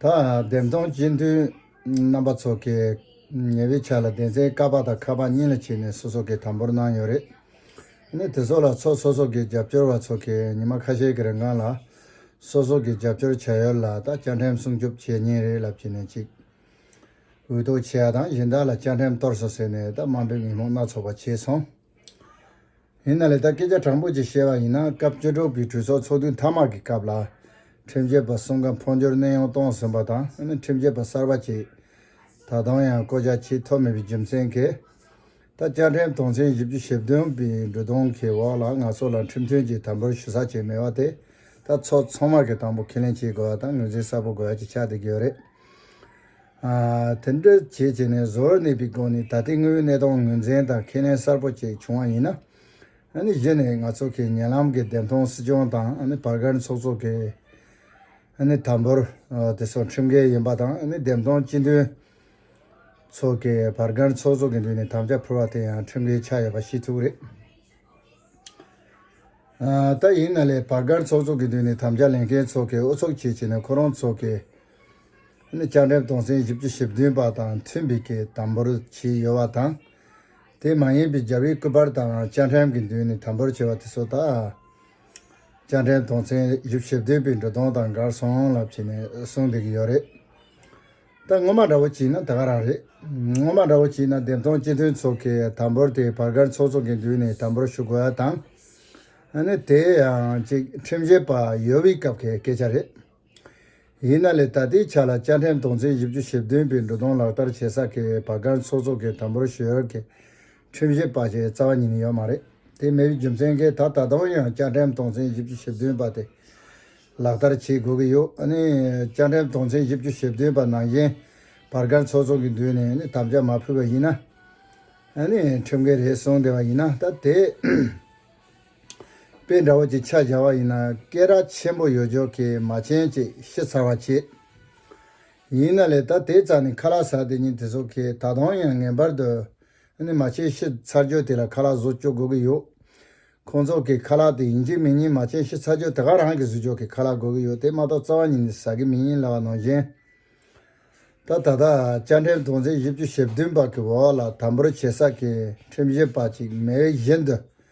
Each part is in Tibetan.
བདེན་སྟོང་སྤྱི་མཐུན་རྣམ་པ་ཚོགས་ཀྱི་ཉེ་བའི་ཆ་ལ་བདེན་ཚན་ཀ་པ་དང་ཁ་པ་གཉིས་ལ་ཕྱེས་ནས་སོ་སོ་གའི་དམ་པོར་གནང་ཡོད་རེད། གནས་དེ་ཚོ་ལ་ཚོགས་སོ་སོ་གའི་རྒྱབ་སྐྱོར་བ་ཚོགས་ཀྱི་ཉི་མ་ཁ་ཤས་ཀྱི་རིང་སྒང་ལ་སོ་སོ་གའི་རྒྱབ་སྐྱོར་བྱ་ཡུལ་ལ་ད་བཅའ་ཁྲིམས་སྲུང་སྐྱོབ་བྱེད་ཉིན་རེད་ལབ་ཀྱི་ནས་ཅིག་འུད་ཏོག་བྱེད་ཡ་དང་གཞན་དག་ལ་བཅའ་ཁྲིམས་གཏོར་སོ་ཟེར་ནས་ད་དམའ་འབེབས་ཉིན་མོ་སྣ་ཚོགས་པ་བྱས་སོང། ཡིན་ན་ལེ་བདའ་སྐད་ཆ་དྲང་པོ་ཅིག་བཤད་པ་ཡིན་ན་སྐབས་བཅུ་དྲུག་པའི་གྲོས་ཚོགས་ཚོགས་དུས་མཐའ་མར་གྱི་སྐབས་ལ། ཁྲིམས་བཅད་པ་གསུམ་ཀ་འཕོ་འགྱུར་གནས་དབྱུང་གཏོང་ཟིན་པ་དང་ཁྲིམས་བཅད་པ་གསར་པ་གཅིག་ད་དུང་ཡང་བསྐོ་བཞག་བྱས་ཐུབ་མེད་པའི་རྒྱུ་མཚན་གྱིས། ད་བཅའ་ཁྲིམས་དོན་ཚན་བཞི་བཅུ་ཞེ་བདུན་པའི་འབྲུ་གདུང་གི་འོག་ལ་ང་ཚོ་ལ་ཁྲིམས་མཐུན་གྱི་དམ་འབུལ་ཞུ་ས་བྱས་མེད་པ་དེ་ད་ཚོགས་ཚོགས་མར་གྱི་དང་པོ་ཁས་ལེན་བྱེད་དགོས་པ་དང་ངོས་འཛིན་གསལ་པོ་དགོས་ཀྱི་ཆགས་བསྡད་ཀྱི་ཡོད་རེད། དེ་འདྲ་བྱས་བྱས་ནས་བཟོ་བར་གནས་པའི་སྒོ་ནས་ད་ལྟའི་དངོས་ཡོད་གནས་སྟངས་ངོས་འཛིན་དང་ཁས་ལེན་གསར་པོ་ཅིག་བྱུང་བ་ཡིན་ན། གཞི་ནས་ང་ཚོ་གིས་ཉེ་ལམ་གྱི་བདེན་མཐོང་སྲིད་སྐྱོང་དང་བར་བཀར་ཚོགས་གཙོ་གིས་དམ་པོར་དེ་ཚོ་ཁྲིམས་འགལ་ཡིན་པ་དང་བདེན་མཐོང་སྤྱི་མཐུན་ཚོགས་ཀྱི་བར་བཀར་ཚོགས་གཙོ་གི་མདུན་ནས་དམ་བཅའ་ཕུལ་བ་དེ་ཡང་ཁྲིམས་འགལ་ཆགས་ཡོད་པ་ཤེས་ཐུབ་རེད། ད་ཡིན་ན་ལས་བར་བཀར་ཚོགས་གཙོ་གི་མདུན་ནས་དམ་བཅའ་ལེན་མཁན་ཚོགས་ཀྱི་དབུ་ཚོགས་ཆེ་བྱས་ནས་ཁོ་རང་ཚོགས་ཀྱི་ནི་བཅའ་ཁྲིམས་དོན་ཚན་བཞི་བཅུ་ཞེ་བདུན་པ་དང་མཐུན་པའི་སྐད་དམ་པོར་བྱས་ཡོད་པ་དང། དེ་མ་ཡིན་པའི་རྒྱབ་ཡིག་སྐུ་པར་དག་ཡང་བཅའ་ཁྲིམས་ཀྱི་མདུན་ནས་དམ་པོར་བྱས་པ་དེ་སོགས་དག། བཅའ་ཁྲིམས་དོན་ཚན་བཞི་བཅུ་ཞེ་བདུན་པའི་འབྲུ་དོན་དང་འགལ་སོང་ལབ་བྱས་ནས་གསུང་བསྡད་ཀྱི་ཡོད་རེད། ད་ངོ་མ་འདྲ་བོ་བྱས་ན་ད་ག་རང་རེད། ངོ་མ་འདྲ་བོ་བྱས་ན་བདེན་སྟོང་སྤྱི་མཐུན་ཚོགས་ཀྱི་དམ་པོར་དེ་བར་སྒར་ཚོགས་ཚོགས་ཀྱི་མདུན་ནས་དམ་པོར་ཞུ་དགོས་པ་དང། ནི་དེ་ཡང་ཅིག་ཁྲིམས་བཞེས་པ་ཡོལ་བའི་སྐབས་ཀྱི་སྐད་ཆ་རེད། ཡིན་ན་ལས་ད་ལྟའི་ཆ་ལ་བཅའ་ཁྲིམས་དོན་ཚན་བཞི་བཅུ་ཞེ་བདུན་པའི་འབྲུ་དོན་ལག་བསྟར་བྱེད་ས་ཁེལ་བའི་བར་སྒར་མཚོ་ཚོགས་ཁེལ་དམ་པོར་ཞུ་ཡོད་ཁེལ་ཁྲིམས་བཞེས་པ་བྱས་རྩ་བ་ཉིད་ནས་ཡོད་མ་རེད་དེ་མེད་པའི་རྒྱུ་མཚན་ཁེལ་ད་ད་དུང་ཡང་བཅའ་ཁྲིམས་དོན་ཚན་བཞི་བཅུ་ཞེ་བདུན་པ་དེ་ལག་བསྟར་བྱེད་དགོས་ཀྱི་ཡོད་ཨ་ནི། བཅའ་ཁྲིམས་དོན་ཚན་བཞི་བཅུ་ཞེ་བདུན་པ་ནང་བཞིན་བར་སྒར་མཚོ་ཚོགས་ཀྱི་མདུན་ནས་དམ་བཅའ་མ་ཕུལ་བ་ཡིན་ན། ཨ་ནི། ཁྲིམས་འགལ་རེད་གསུངས་བསྡད་པ་ཡིན་ན་ད་དེ། དཔེ་འདྲ་བོ་ཅིག་ཆ་བཞག་པ་ཡིན་ན་སྐད་རགས་ཆེན་པོ་ཡོད་ཅོག་གིས་མ་མཆན་ཅིག་ཤི་ཚར་བ་བྱས། ཡིན་ན་ལས་ད་དེ་རྩ་ནས་ཁ་ལག་ཟ་དེ་ཉིན་དེ་ཚོ་གིས་ད་དུང་ཡང་ངེས་པར་དུ་ནི་མ་མཆན་ཤི་ཚར་རྒྱུ་དེ་ལ་ཁ་ལག་བཟོ་བཅུག་དགོས་ཀྱི་ཡོད། ཁོང་ཚོ་གིས་ཁ་ལག་དེ་ཡིན་གཅིག་མིན་གཉིས་མ་མཆན་ཤི་ཚར་རྒྱུ་དེ་ག་རང་གིས་བཟོས་ཅོག་གིས་ཁ་ལག་དགོས་ཀྱི་ཡོད་དེ་མ་གཏོགས་རྩ་བ་ཉིད་ནས་ཟ་གི་མིན་ཡིན་ལ་བ་ནང་བཞིན། ད་ད་ལྟ་བཅའ་ཁྲིམས་དོན་ཚན་བཞི་བཅུ་ཞེ་བདུན་པ་གི་འོག་ལ་དམ་པོར་བྱེད་ས་ཀྱི་ཁྲིམས་བཞིན་པ་ཅིག་མེད་བཞིན་དུ།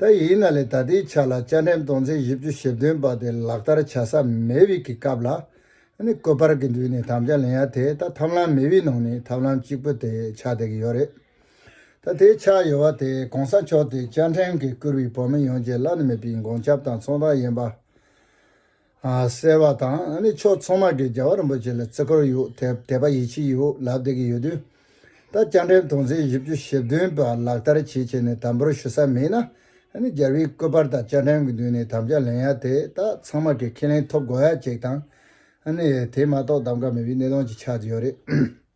ད་ཡིན་ན་ལས་ད་ལྟའི་ཆ་ལ་བཅའ་ཁྲིམས་སྟོང་ཚན་བཞི་བཅུ་ཞེ་བདུན་པ་དེ་ལག་བསྟར་བྱ་ས་མེད་དབྱིག་གི་སྐབས་ལ་ནི་བཀོད་པར་གྱི་མདུན་ནས་དམ་བཅའ་ལེན་ཡ་དེ་ད་ཐབས་ལམ་མེད་དབྱིག་ནང་ནས་ཐབས་ལམ་གཅིག་པོ་དེ་ཆགས་བསྡད་ཀྱི་ཡོད་རེད། ད་དེ་ཆགས་ཡོད་བ་དེ་གོང་ས་མཆོག་དེ་བཅའ་ཁྲིམས་གི་བསྐུར་བའི་བོད་མི་ཡོངས་ཀྱི་བླ་ན་མེད་པའི་འགོང་ཆབ་དང་ཚོང་རྟགས་ཡིན་པ། གསལ་བ་དང་ནི་ཕྱོགས་མཚུངས་མ་གིས་རྒྱལ་བ་རིན་པོ་ཆེ་ལ་བརྩི་བཀུར་ཡོད་དད་པ་ཡིད་ཆེས་ཡོད་ལབ་བསྡད་ཀྱི་ཡོད་དུས། ད་བཅར་འགྲེམས་སྟོན་ཚེས་བཞི་བཅུ་ཞེ་བདུན་པ་ལག་བསྟར་བྱེད་ཆེད་ནས་དམ་འབུལ་ཞུ་ས་མེད་ན་ནི་རྒྱལ་བའི་བཀོད་པར་དང་བཅར་འགྲེམས་ཀྱི་མདུན་ནས་དམ་བཅའ་ལེན་ཡ་དེ་དག་ཚང་མ་གིས་ཁས་ལེན་ཐོབ་དགོས་ཡ་གཅིག་དང་ནི་དེ་མ་གཏོགས་གདམ་ག་མེད་པའི་གནས་སྟངས་ཀྱི་ཆགས་ཀྱི་ཡོད་རེད།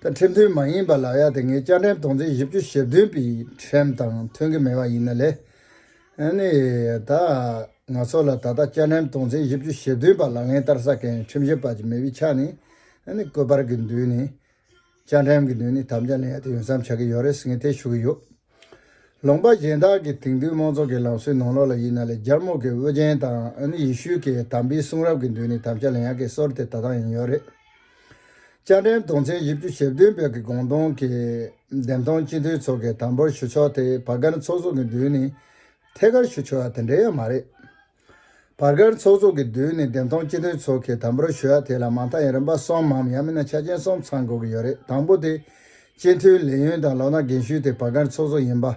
ད་ཁྲིམས་མཐུན་མ་ཡིན་པ་ལ་ཡ་དེ་ངས་བཅའ་ཁྲིམས་དོན་ཚན་བཞི་བཅུ་ཞེ་བདུན་པའི་ཁྲིམས་དང་མཐུན་གྱི་མེད་པ་ཡིན་ན་ལས་ནི། ད་ང་ཚོ་ལ་ད་ལྟ་བཅའ་ཁྲིམས་དོན་ཚན་བཞི་བཅུ་ཞེ་བདུན་པ་ལག་ལེན་བསྟར་ས་མཁན་ཁྲིམས་ཞིབ་པ་ཅིག་མེད་པའི་ཆ་ནས་བཀོད་པར་གྱི་མདུན་ནས་བཅའ་ཁྲིམས་ཀྱི་མདུན་ནས་དམ་བཅའ་ལེན་ཡ་དེ་ཡོད་མཚམས་ཆགས་ཀྱི་ཡོད་རེད་ཟེར་མཁན་དེ་ཞུ་གི་ཡོད། ལུང་པ་གཞན་དག་གིས་དེང་དུས་མང་ཚོགས་ཀྱི་ལམ་སྲོལ་ནང་ལོགས་ལ་ཡིན་ན་ལས་སྦྱར་མོ་གི་དབུ་རྒྱན་དང་ཡེ་ཤུའི་གི་དམ་པའི་གསུང་རབ་ཀྱི་མདུན་ནས་དམ་བཅའ་ལེན་ཡག་གི་སྲོལ་དེ་ད་ལྟའང་ཡང་ཡོད་རེད། སྤྱན་འདྲེན་དུང་ཆེན་བཞི་བཅུ་ཞེ་བདུན་པའི་གི་དགོངས་དོན་གྱི་འདེམས་ཐོན་སྤྱི་འཐུས་ཚོགས་གི་དམ་འབུལ་ཞུ་ཕྱོགས་དེ་བ་ག་ནི་ཚོགས་གཙོ་གི་མདུན་ནས་ཐད་ཀར་ཞུ་ཆོག་ཡ་དེ་འདྲ་ཡང་མ་རེད། བར་སྐལ་ཚོགས་ཚོགས་ཀྱི་མདུན་ནས་བདེན་སྟོང་སྤྱི་དོན་ཚོགས་ཀྱི་དམ་པོར་གཞོལ་བ་དེ་ལ་མ་མཐའ་ཡང་རིམ་པ་གསུམ་མམ་ཡང་མིན་ན་ཆ་ཆེན་གསུམ་ཚང་དགོས་ཀྱི་ཡོད་རེད་དང་པོ་དེ། སྤྱི་མཐུས་ལས་ཡུན་དང་ལོ་ན་རྒན་ཤོས་དེ་བར་སྐལ་ཚོགས་ཚོགས་ཡིན་པ།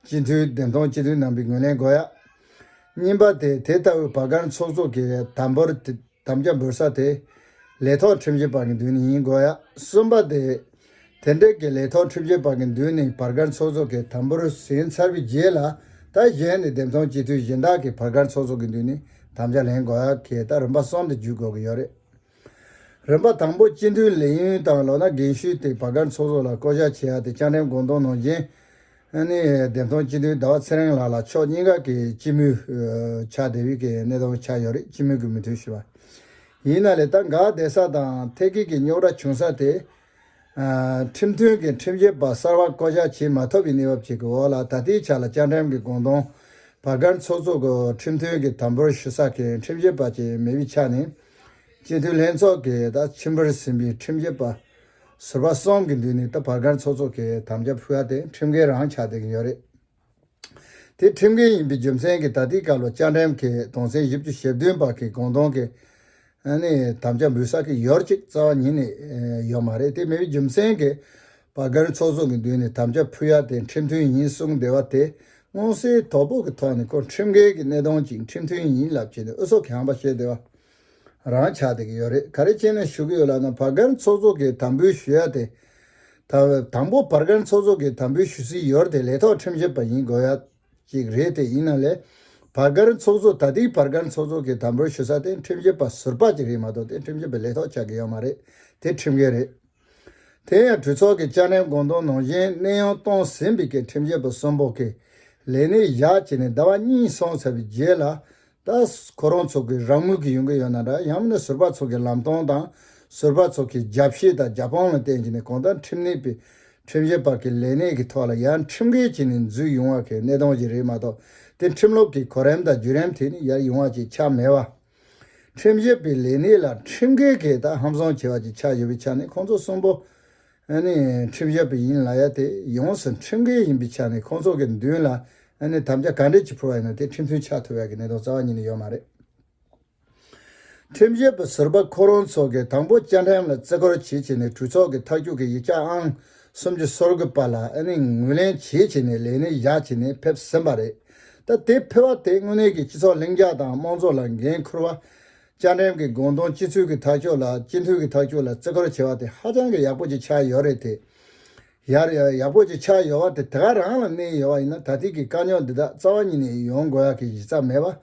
སྤྱི་མཐུས་བདེན་སྟོང་སྤྱི་དོན་རྣམ་པའི་ངོས་ལེན་དགོས་ཡ། གཉིས་པ་དེ་དེ་ལྟ་བུའི་བར་སྐལ་ཚོགས་ཚོགས་ཀྱི་དམ་པོར་དེ། དམ་བཅའ་འབུལ་ས་དེ། ལས་ཐོག་ཁྲིམས་བཞེས་པ་གི་མདུན་ནས་ཡིན་དགོས། གསུམ་པ། དེ་འབྲེལ་གྱི་ལས་ཐོག་ཁྲིམས་བཞེས་པ་གི་མདུན་ནས་བར་སྐར་ཚོགས་གཙོ་གི་དམ་འབུལ་ཟིན་ཚར་བའི་རྗེས་ལ། ལྟ་གཞན་ནས་འདེམས་ཐོན་སྤྱི་འཐུས་གཞན་དག་གིས་བར་སྐར་ཚོགས་གཙོ་གི་མདུན་ནས་དམ་བཅའ་ལེན་དགོས། གལ་ཏེ་རིམ་པ་གསུམ་དུ་འཇུག་དགོས་ཀྱི་ཡོད་རེད། རིམ་པ་དང་པོ་སྤྱི་འཐུས་ལས་ཡུན་དང་ལོ་ན་རྒན་ཤོས་དེ་བར་སྐར་ཚོགས་གཙོ་ལ་བསྐོ་གཞག་བྱེད་ཡ་དེ་བཅའ་ཁྲིམས་དགོངས་དོན་ནང་རྐྱེན་ཨན་ནི་བདེན་མཐོང་སྤྱི་འཐུས་ཟླ་བ་ཚེ་རིང་ལགས་ལ་ཕྱོགས་གཉིས་ཀ་གི་སྤྱི་མོས་ཆགས་བསྡད་ཡུལ་གྱི་གནས་སྟོང་ཆགས་ཡོད་རེད་སྤྱི་མོས་ཀྱི་མི་མཐུན་ཞུ་བ་ཡིན་ན་ལས་ད་འགག་བསྡད་ས་དང་ཐད་ཀིག་གི་རྙོག་དྲ་བྱུང་ས་དེ། ཁྲིམས་མཐུན་གི་ཁྲིམས་བྱེད་པ་གསར་བ་བསྐོ་བཞག་བྱེད་མ་ཐུབ་པའི་གནས་བབ་ཅིག་གི་འོག་ལ་ད་ལྟའི་ཆ་ལ་བཅའ་ཁྲིམས་གི་དགོངས་དོན་བར་སྐར་ཚོགས་གཙོ་གི་ཁྲིམས་མཐུན་གི་དམ་པོར་ཞུ་ས་གི་ཁྲིམས་བྱེད་པ་ཅིག་མེད་པའི་ཆ་ནས་སྤྱི་འཐུས་ལྷན་ཚོགས་ཀྱིས་ད་ཕྱི་འབུར་ཟིན་པའི་ཁྲིམས་བྱེད་པ་ཟུར་པ་གསུམ་གྱི་མདུན་ནས་ད་བར་སྒར་ཚོགས་གཙོ་གིས་དམ་བཅའ་ཕུལ་བ་དེ་ཁྲིམས་འགལ་རང་ཆགས་བསྡད་ཀྱིན་ཡོད་རེད། དེ་ཁྲིམས་འགལ་ཡིན་པའི་རྒྱུ་མཚན་གྱིས་ད་ལྟའི་སྐབས་ལ་བཅའ་ཁྲིམས་ཀྱི་དོན་ཚན་བཞི་བཅུ་ཞེ་བདུན་པར་གྱི་དགོངས་དོན་གྱི་ནི་དམ་བཅའ་འབུལ་ས་གི་ཡོར་ཅིག་རྩ་བ་ཉིད་ནས་ཡོད་མ་རེད་དེ་མེད་པའི་རྒྱུ་མཚན་གྱིས་བར་སྒར་ཚོགས་གཙོ་གི་མདུན་ནས་དམ་བཅའ་ཕུལ་ཡ་དེ་ཁྲིམས་མཐུན་ཡིན་གསུངས་བསྡད་པ་དེ་མངོན་གསལ་དོད་པོ་གི་ཐོག་ནས་ཁོ་ཁྲིམས་འགལ་གྱི་གནད་དོན་ཅིག་ཁྲིམས་མཐུན་ཡིན་ལབ་བྱས་ནས་ཨུ་ཚུགས་ཁང་པ་བྱས་བསྡད་པ་རང་ཆགས་དེ་གི་ཡོད་རེད་ག་རེ་ཅན་ནས་ཞུ་གི་ཡོད་ལབ་ན་བར་སྐར་ཚོགས་གཙོ་གི་དམ་འབུལ་ཞུ་ཡ་དེ། དང་པོ་བར་སྐར་ཚོགས་གཙོ་གི་དམ་འབུལ་ཞུ་སི་ཡོར་དེ་ལས་ཐོག་ཁྲིམས་བཞེད་པ་ཡིན་དགོས་ཡ་ཅིག་རེད་དེ་ཡིན་ན་ལས་བར་སྐར་ཚོགས་གཙོ་ད་ཏིག་བར་སྐར་ཚོགས་གཙོ་གི་དམ་འབུལ་ཞུ་ས་དེ་ཁྲིམས་བཞེད་པ་ཟུར་པ་ཅིག་རེད་མ་གཏོགས་དེ་ཁྲིམས་བཞེད་པའི་ལས་ཐོག་ཆགས་གི་ཡོད་མ་རེད་དེ་ཁྲིམས་འགལ་རེད། དེ་ཡང་གྲོས་ཚོགས་ཀྱི་བཅར་ནན་དགོངས་དོན་ནང་བཞིན་གནས་དབྱུང་གཏོང་ཟིན་པའི་སྐད་ཁྲིམས་བཅད་པ་གསུམ་པོ་ཀྱི་ལས་གནས་བཞག་བྱས་ནས་ཟླ་བ་གཉིས་སོང་ཚར་བའི་རྗེས་ལ། ད་ཁོ་རང་ཚོ་གི་རང་མོས་ཀྱི་ཡོང་གི་ཡོད་ན་འདྲ་ཡང་མིན་ན་ཟུར་པ་ཚོ་གི་ལམ་སྟོན་དང་ཟུར་པ་ཚོ་གི་རྒྱབ་བཤད་དང་རྒྱབ་དཔང་ལ་བརྟེན་བྱས་ནས་གང་ལྟར་ཁྲིམས་གནས་པའི་ཁྲིམས་བཞེས་བར་གྱི་ལས་གནས་ཀྱི་ཐོག་ལ་ཡར་ཁྲིམས་འགལ་བྱས་ནས་འཛུལ་ཡོང་བ་གི་གནས་སྟངས་ཞིག་རེད་མ་གཏོགས་དེ་ཁྲིམས་ལུགས་ཀྱི་གོ་རིམ་དང་བརྒྱུད་རིམ་ཐད་ནས་ཡར་ཡོང་བ་ཅིག་ཆགས་མེད་པ། ཁྲིམས་བཤེར་པའི་ལས་གནས་ལ་ཁྲིམས་འགལ་གྱི་དག་ཧམ་བཟང་བྱེད་པ་བཅས་ཆགས་ཡོད་པའི་ཆ་ནས་ཁོང་ཚོ་གསུམ་པོ་ནི་ཁྲིམས་བཤེར་པ་ཡིན་ལ་ཡ་དེ་ཡོངས་སུ་ཁྲིམས་འགལ་ཡིན་པའི་ཆ་ནས་ཁོང་ཚོ་གི་མདུན་ལ་དམ་བཅའ་ག་འདྲས་ཀྱིས་ཕུལ་བ་ཡིན་ནམ་དེ་ཁྲིམས་མཐུན་ཆགས་ཐུབ་ཡག་གི་གནད་དོན་རྩ་བ་ཉིད་ནས་ཡོད་མ་རེད། ཁྲིམས་བཤེར་པ་ཟུར་པ་ཁོ་རང་ཚོ་གིས་དང་པོ་བཅའ་ཁྲིམས་ལ་བརྩི་བཀུར་བྱེད་ཆེད་ནས་གྲོས་ཚོགས་ཀྱི་ཐག་གཅོད་ཀྱི་ཡིག་ཆ་ཨང་གསུམ་གྱི་སོར་དགུ་པ་ལ་ངོས་ལེན་བྱེད་ཆེད་ནས་ལས་གནས་བཞག་ཆེད་ནས་ཕེབས་ཟིན་པ་རེད། ད་ལྟའི་ཕེར་བ་དེས་དངོས་གནས་ཀྱི་སྤྱི་ཚོགས་ལྷིང་འཇགས་དང་དམངས་ཚོགས་ལ་འགན་ཁུར་བ། བཅའ་ཁྲིམས་ཀྱི་དགོངས་དོན་སྤྱི་ཚུལ་གྱི་ཐག་གཅོད་ལ་སྤྱི་འཐུས་ཀྱི་ཐག་གཅོད་ལ་བརྩི་བཀུར་བྱེད་པ་དེ་ཧ་ཅང་གི་ཡག་པོ་ཅིག་ཆགས་ཡོད་རེད་དེ། ཡར་ཡག་པོ་ཅིག་ཆགས་ཡོད་བ་དེ་དེ་ག་རང་ལ་གནས་ཡོད་བ་ཡིན་ན་ད་ཐིག་གི་དཀའ་རྙོག་འདི་དག་རྩ་བ་ཉིད་ནས་ཡོང་དགོས་ཡག་གི་གཞི་རྩ་མེད་པ་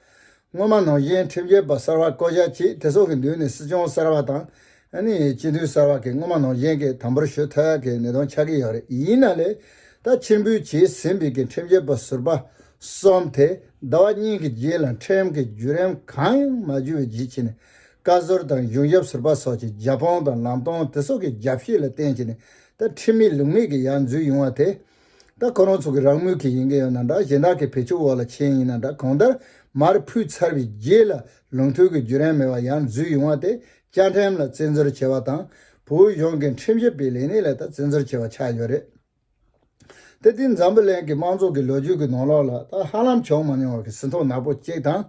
སྔོན་མ་ནང་བཞིན་ཁྲིམས་རྒྱལ་པ་གསར་བ་བསྐོ་བཞག་ཅིག་དེ་སོགས་ཀྱི་མདུན་ནས་སྲིད་སྐྱོང་གསར་བ་དང། སྤྱི་འཐུས་གསར་བ་གིས་སྔོན་མ་ནང་བཞིན་གྱི་དམ་པོར་ཞུ་ཐལ་གྱི་ནི་དོན་ཆགས་ཀྱི་ཡོད་རེད་ཡིན་ན་ལས་ད་ཕྱིར་འབུལ་བྱས་ཟིན་པའི་གི་ཁྲིམས་རྒྱལ་པོ་ཟུར་པ་གསུམ་དེ་ཟླ་བ་གཉིས་ཀྱི་རྗེས་ལ་ཁྲིམས་ཀྱི་བརྒྱུད་རིམ་གང་ཡང་མ་བརྒྱུད་པའི་རྗེས་ཕྱིན་ནས་བཀའ་ཟུར་དང་གཞུང་ཞབས་ཟུར་པ་སོགས་ཀྱི་རྒྱབ་དཔུང་དང་ལམ་སྟོན་དེ་སོགས་ཀྱི་རྒྱབ་བཤད་ལ་བརྟེན་བྱས་ནས་ད་ཁྲིམས་མེད་ལུགས་མེད་ཀྱི་ཡར་འཛུལ་ཡོང་བ་དེ་ད་ཁོ་རང་ཚོ་གི་རང་མོས་ཀྱི་ཡིན་གྱི་ཡོད་ན་འདྲ་གཞན་དག་གི་བེད་སྤྱོད་འོག་ལ་མཁྱེན་ཡིན་ན་འདྲ་གང་ལྟར་མར་ཕུད་ཚར་བའི་རྗེས་ལ་ལུང་མཐུན་གྱི་བརྒྱུད་རན་མེད་པར་ཡང་འཛུལ་ཡོང་བ་དེ་བཅའ་ཁྲིམས་ལ་བཙན་འཛུལ་བྱས་པ་དང་བོད་གཞུང་གི་ཁྲིམས་ཞིབ་པའི་ལས་གནས་ལ་ད་བཙན་འཛུལ་བྱས་པ་ཆགས་ཡོད་རེད་དེ་དེ་འཛམ་བུ་གླིང་གི་དམངས་ཚོགས་ཀྱི་ལོ་རྒྱུས་ཀྱི་ནང་ལོགས་ལ་ད་ཧ་ལམ་བྱུང་མ་མྱོང་བ་གི་ཟིན་ཐོ་ནག་པོ་གཅིག་དང།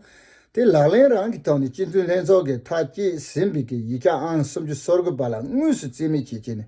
དེ་ལག་ལེན་རང་གི་ཐོག་ནས་སྤྱི་མཐུན་ལྷན་ཚོགས་ཀྱི་མཐའ་དཀྱིལ་ཟིན་པའི་གྱི་ཡིག་ཆ་ཨང་གསུམ་བཅུ་སོར་དགུ་པ་ལ་དངོས་སུ་རྩིས་མེད་བྱེད་ཆེད་ནས་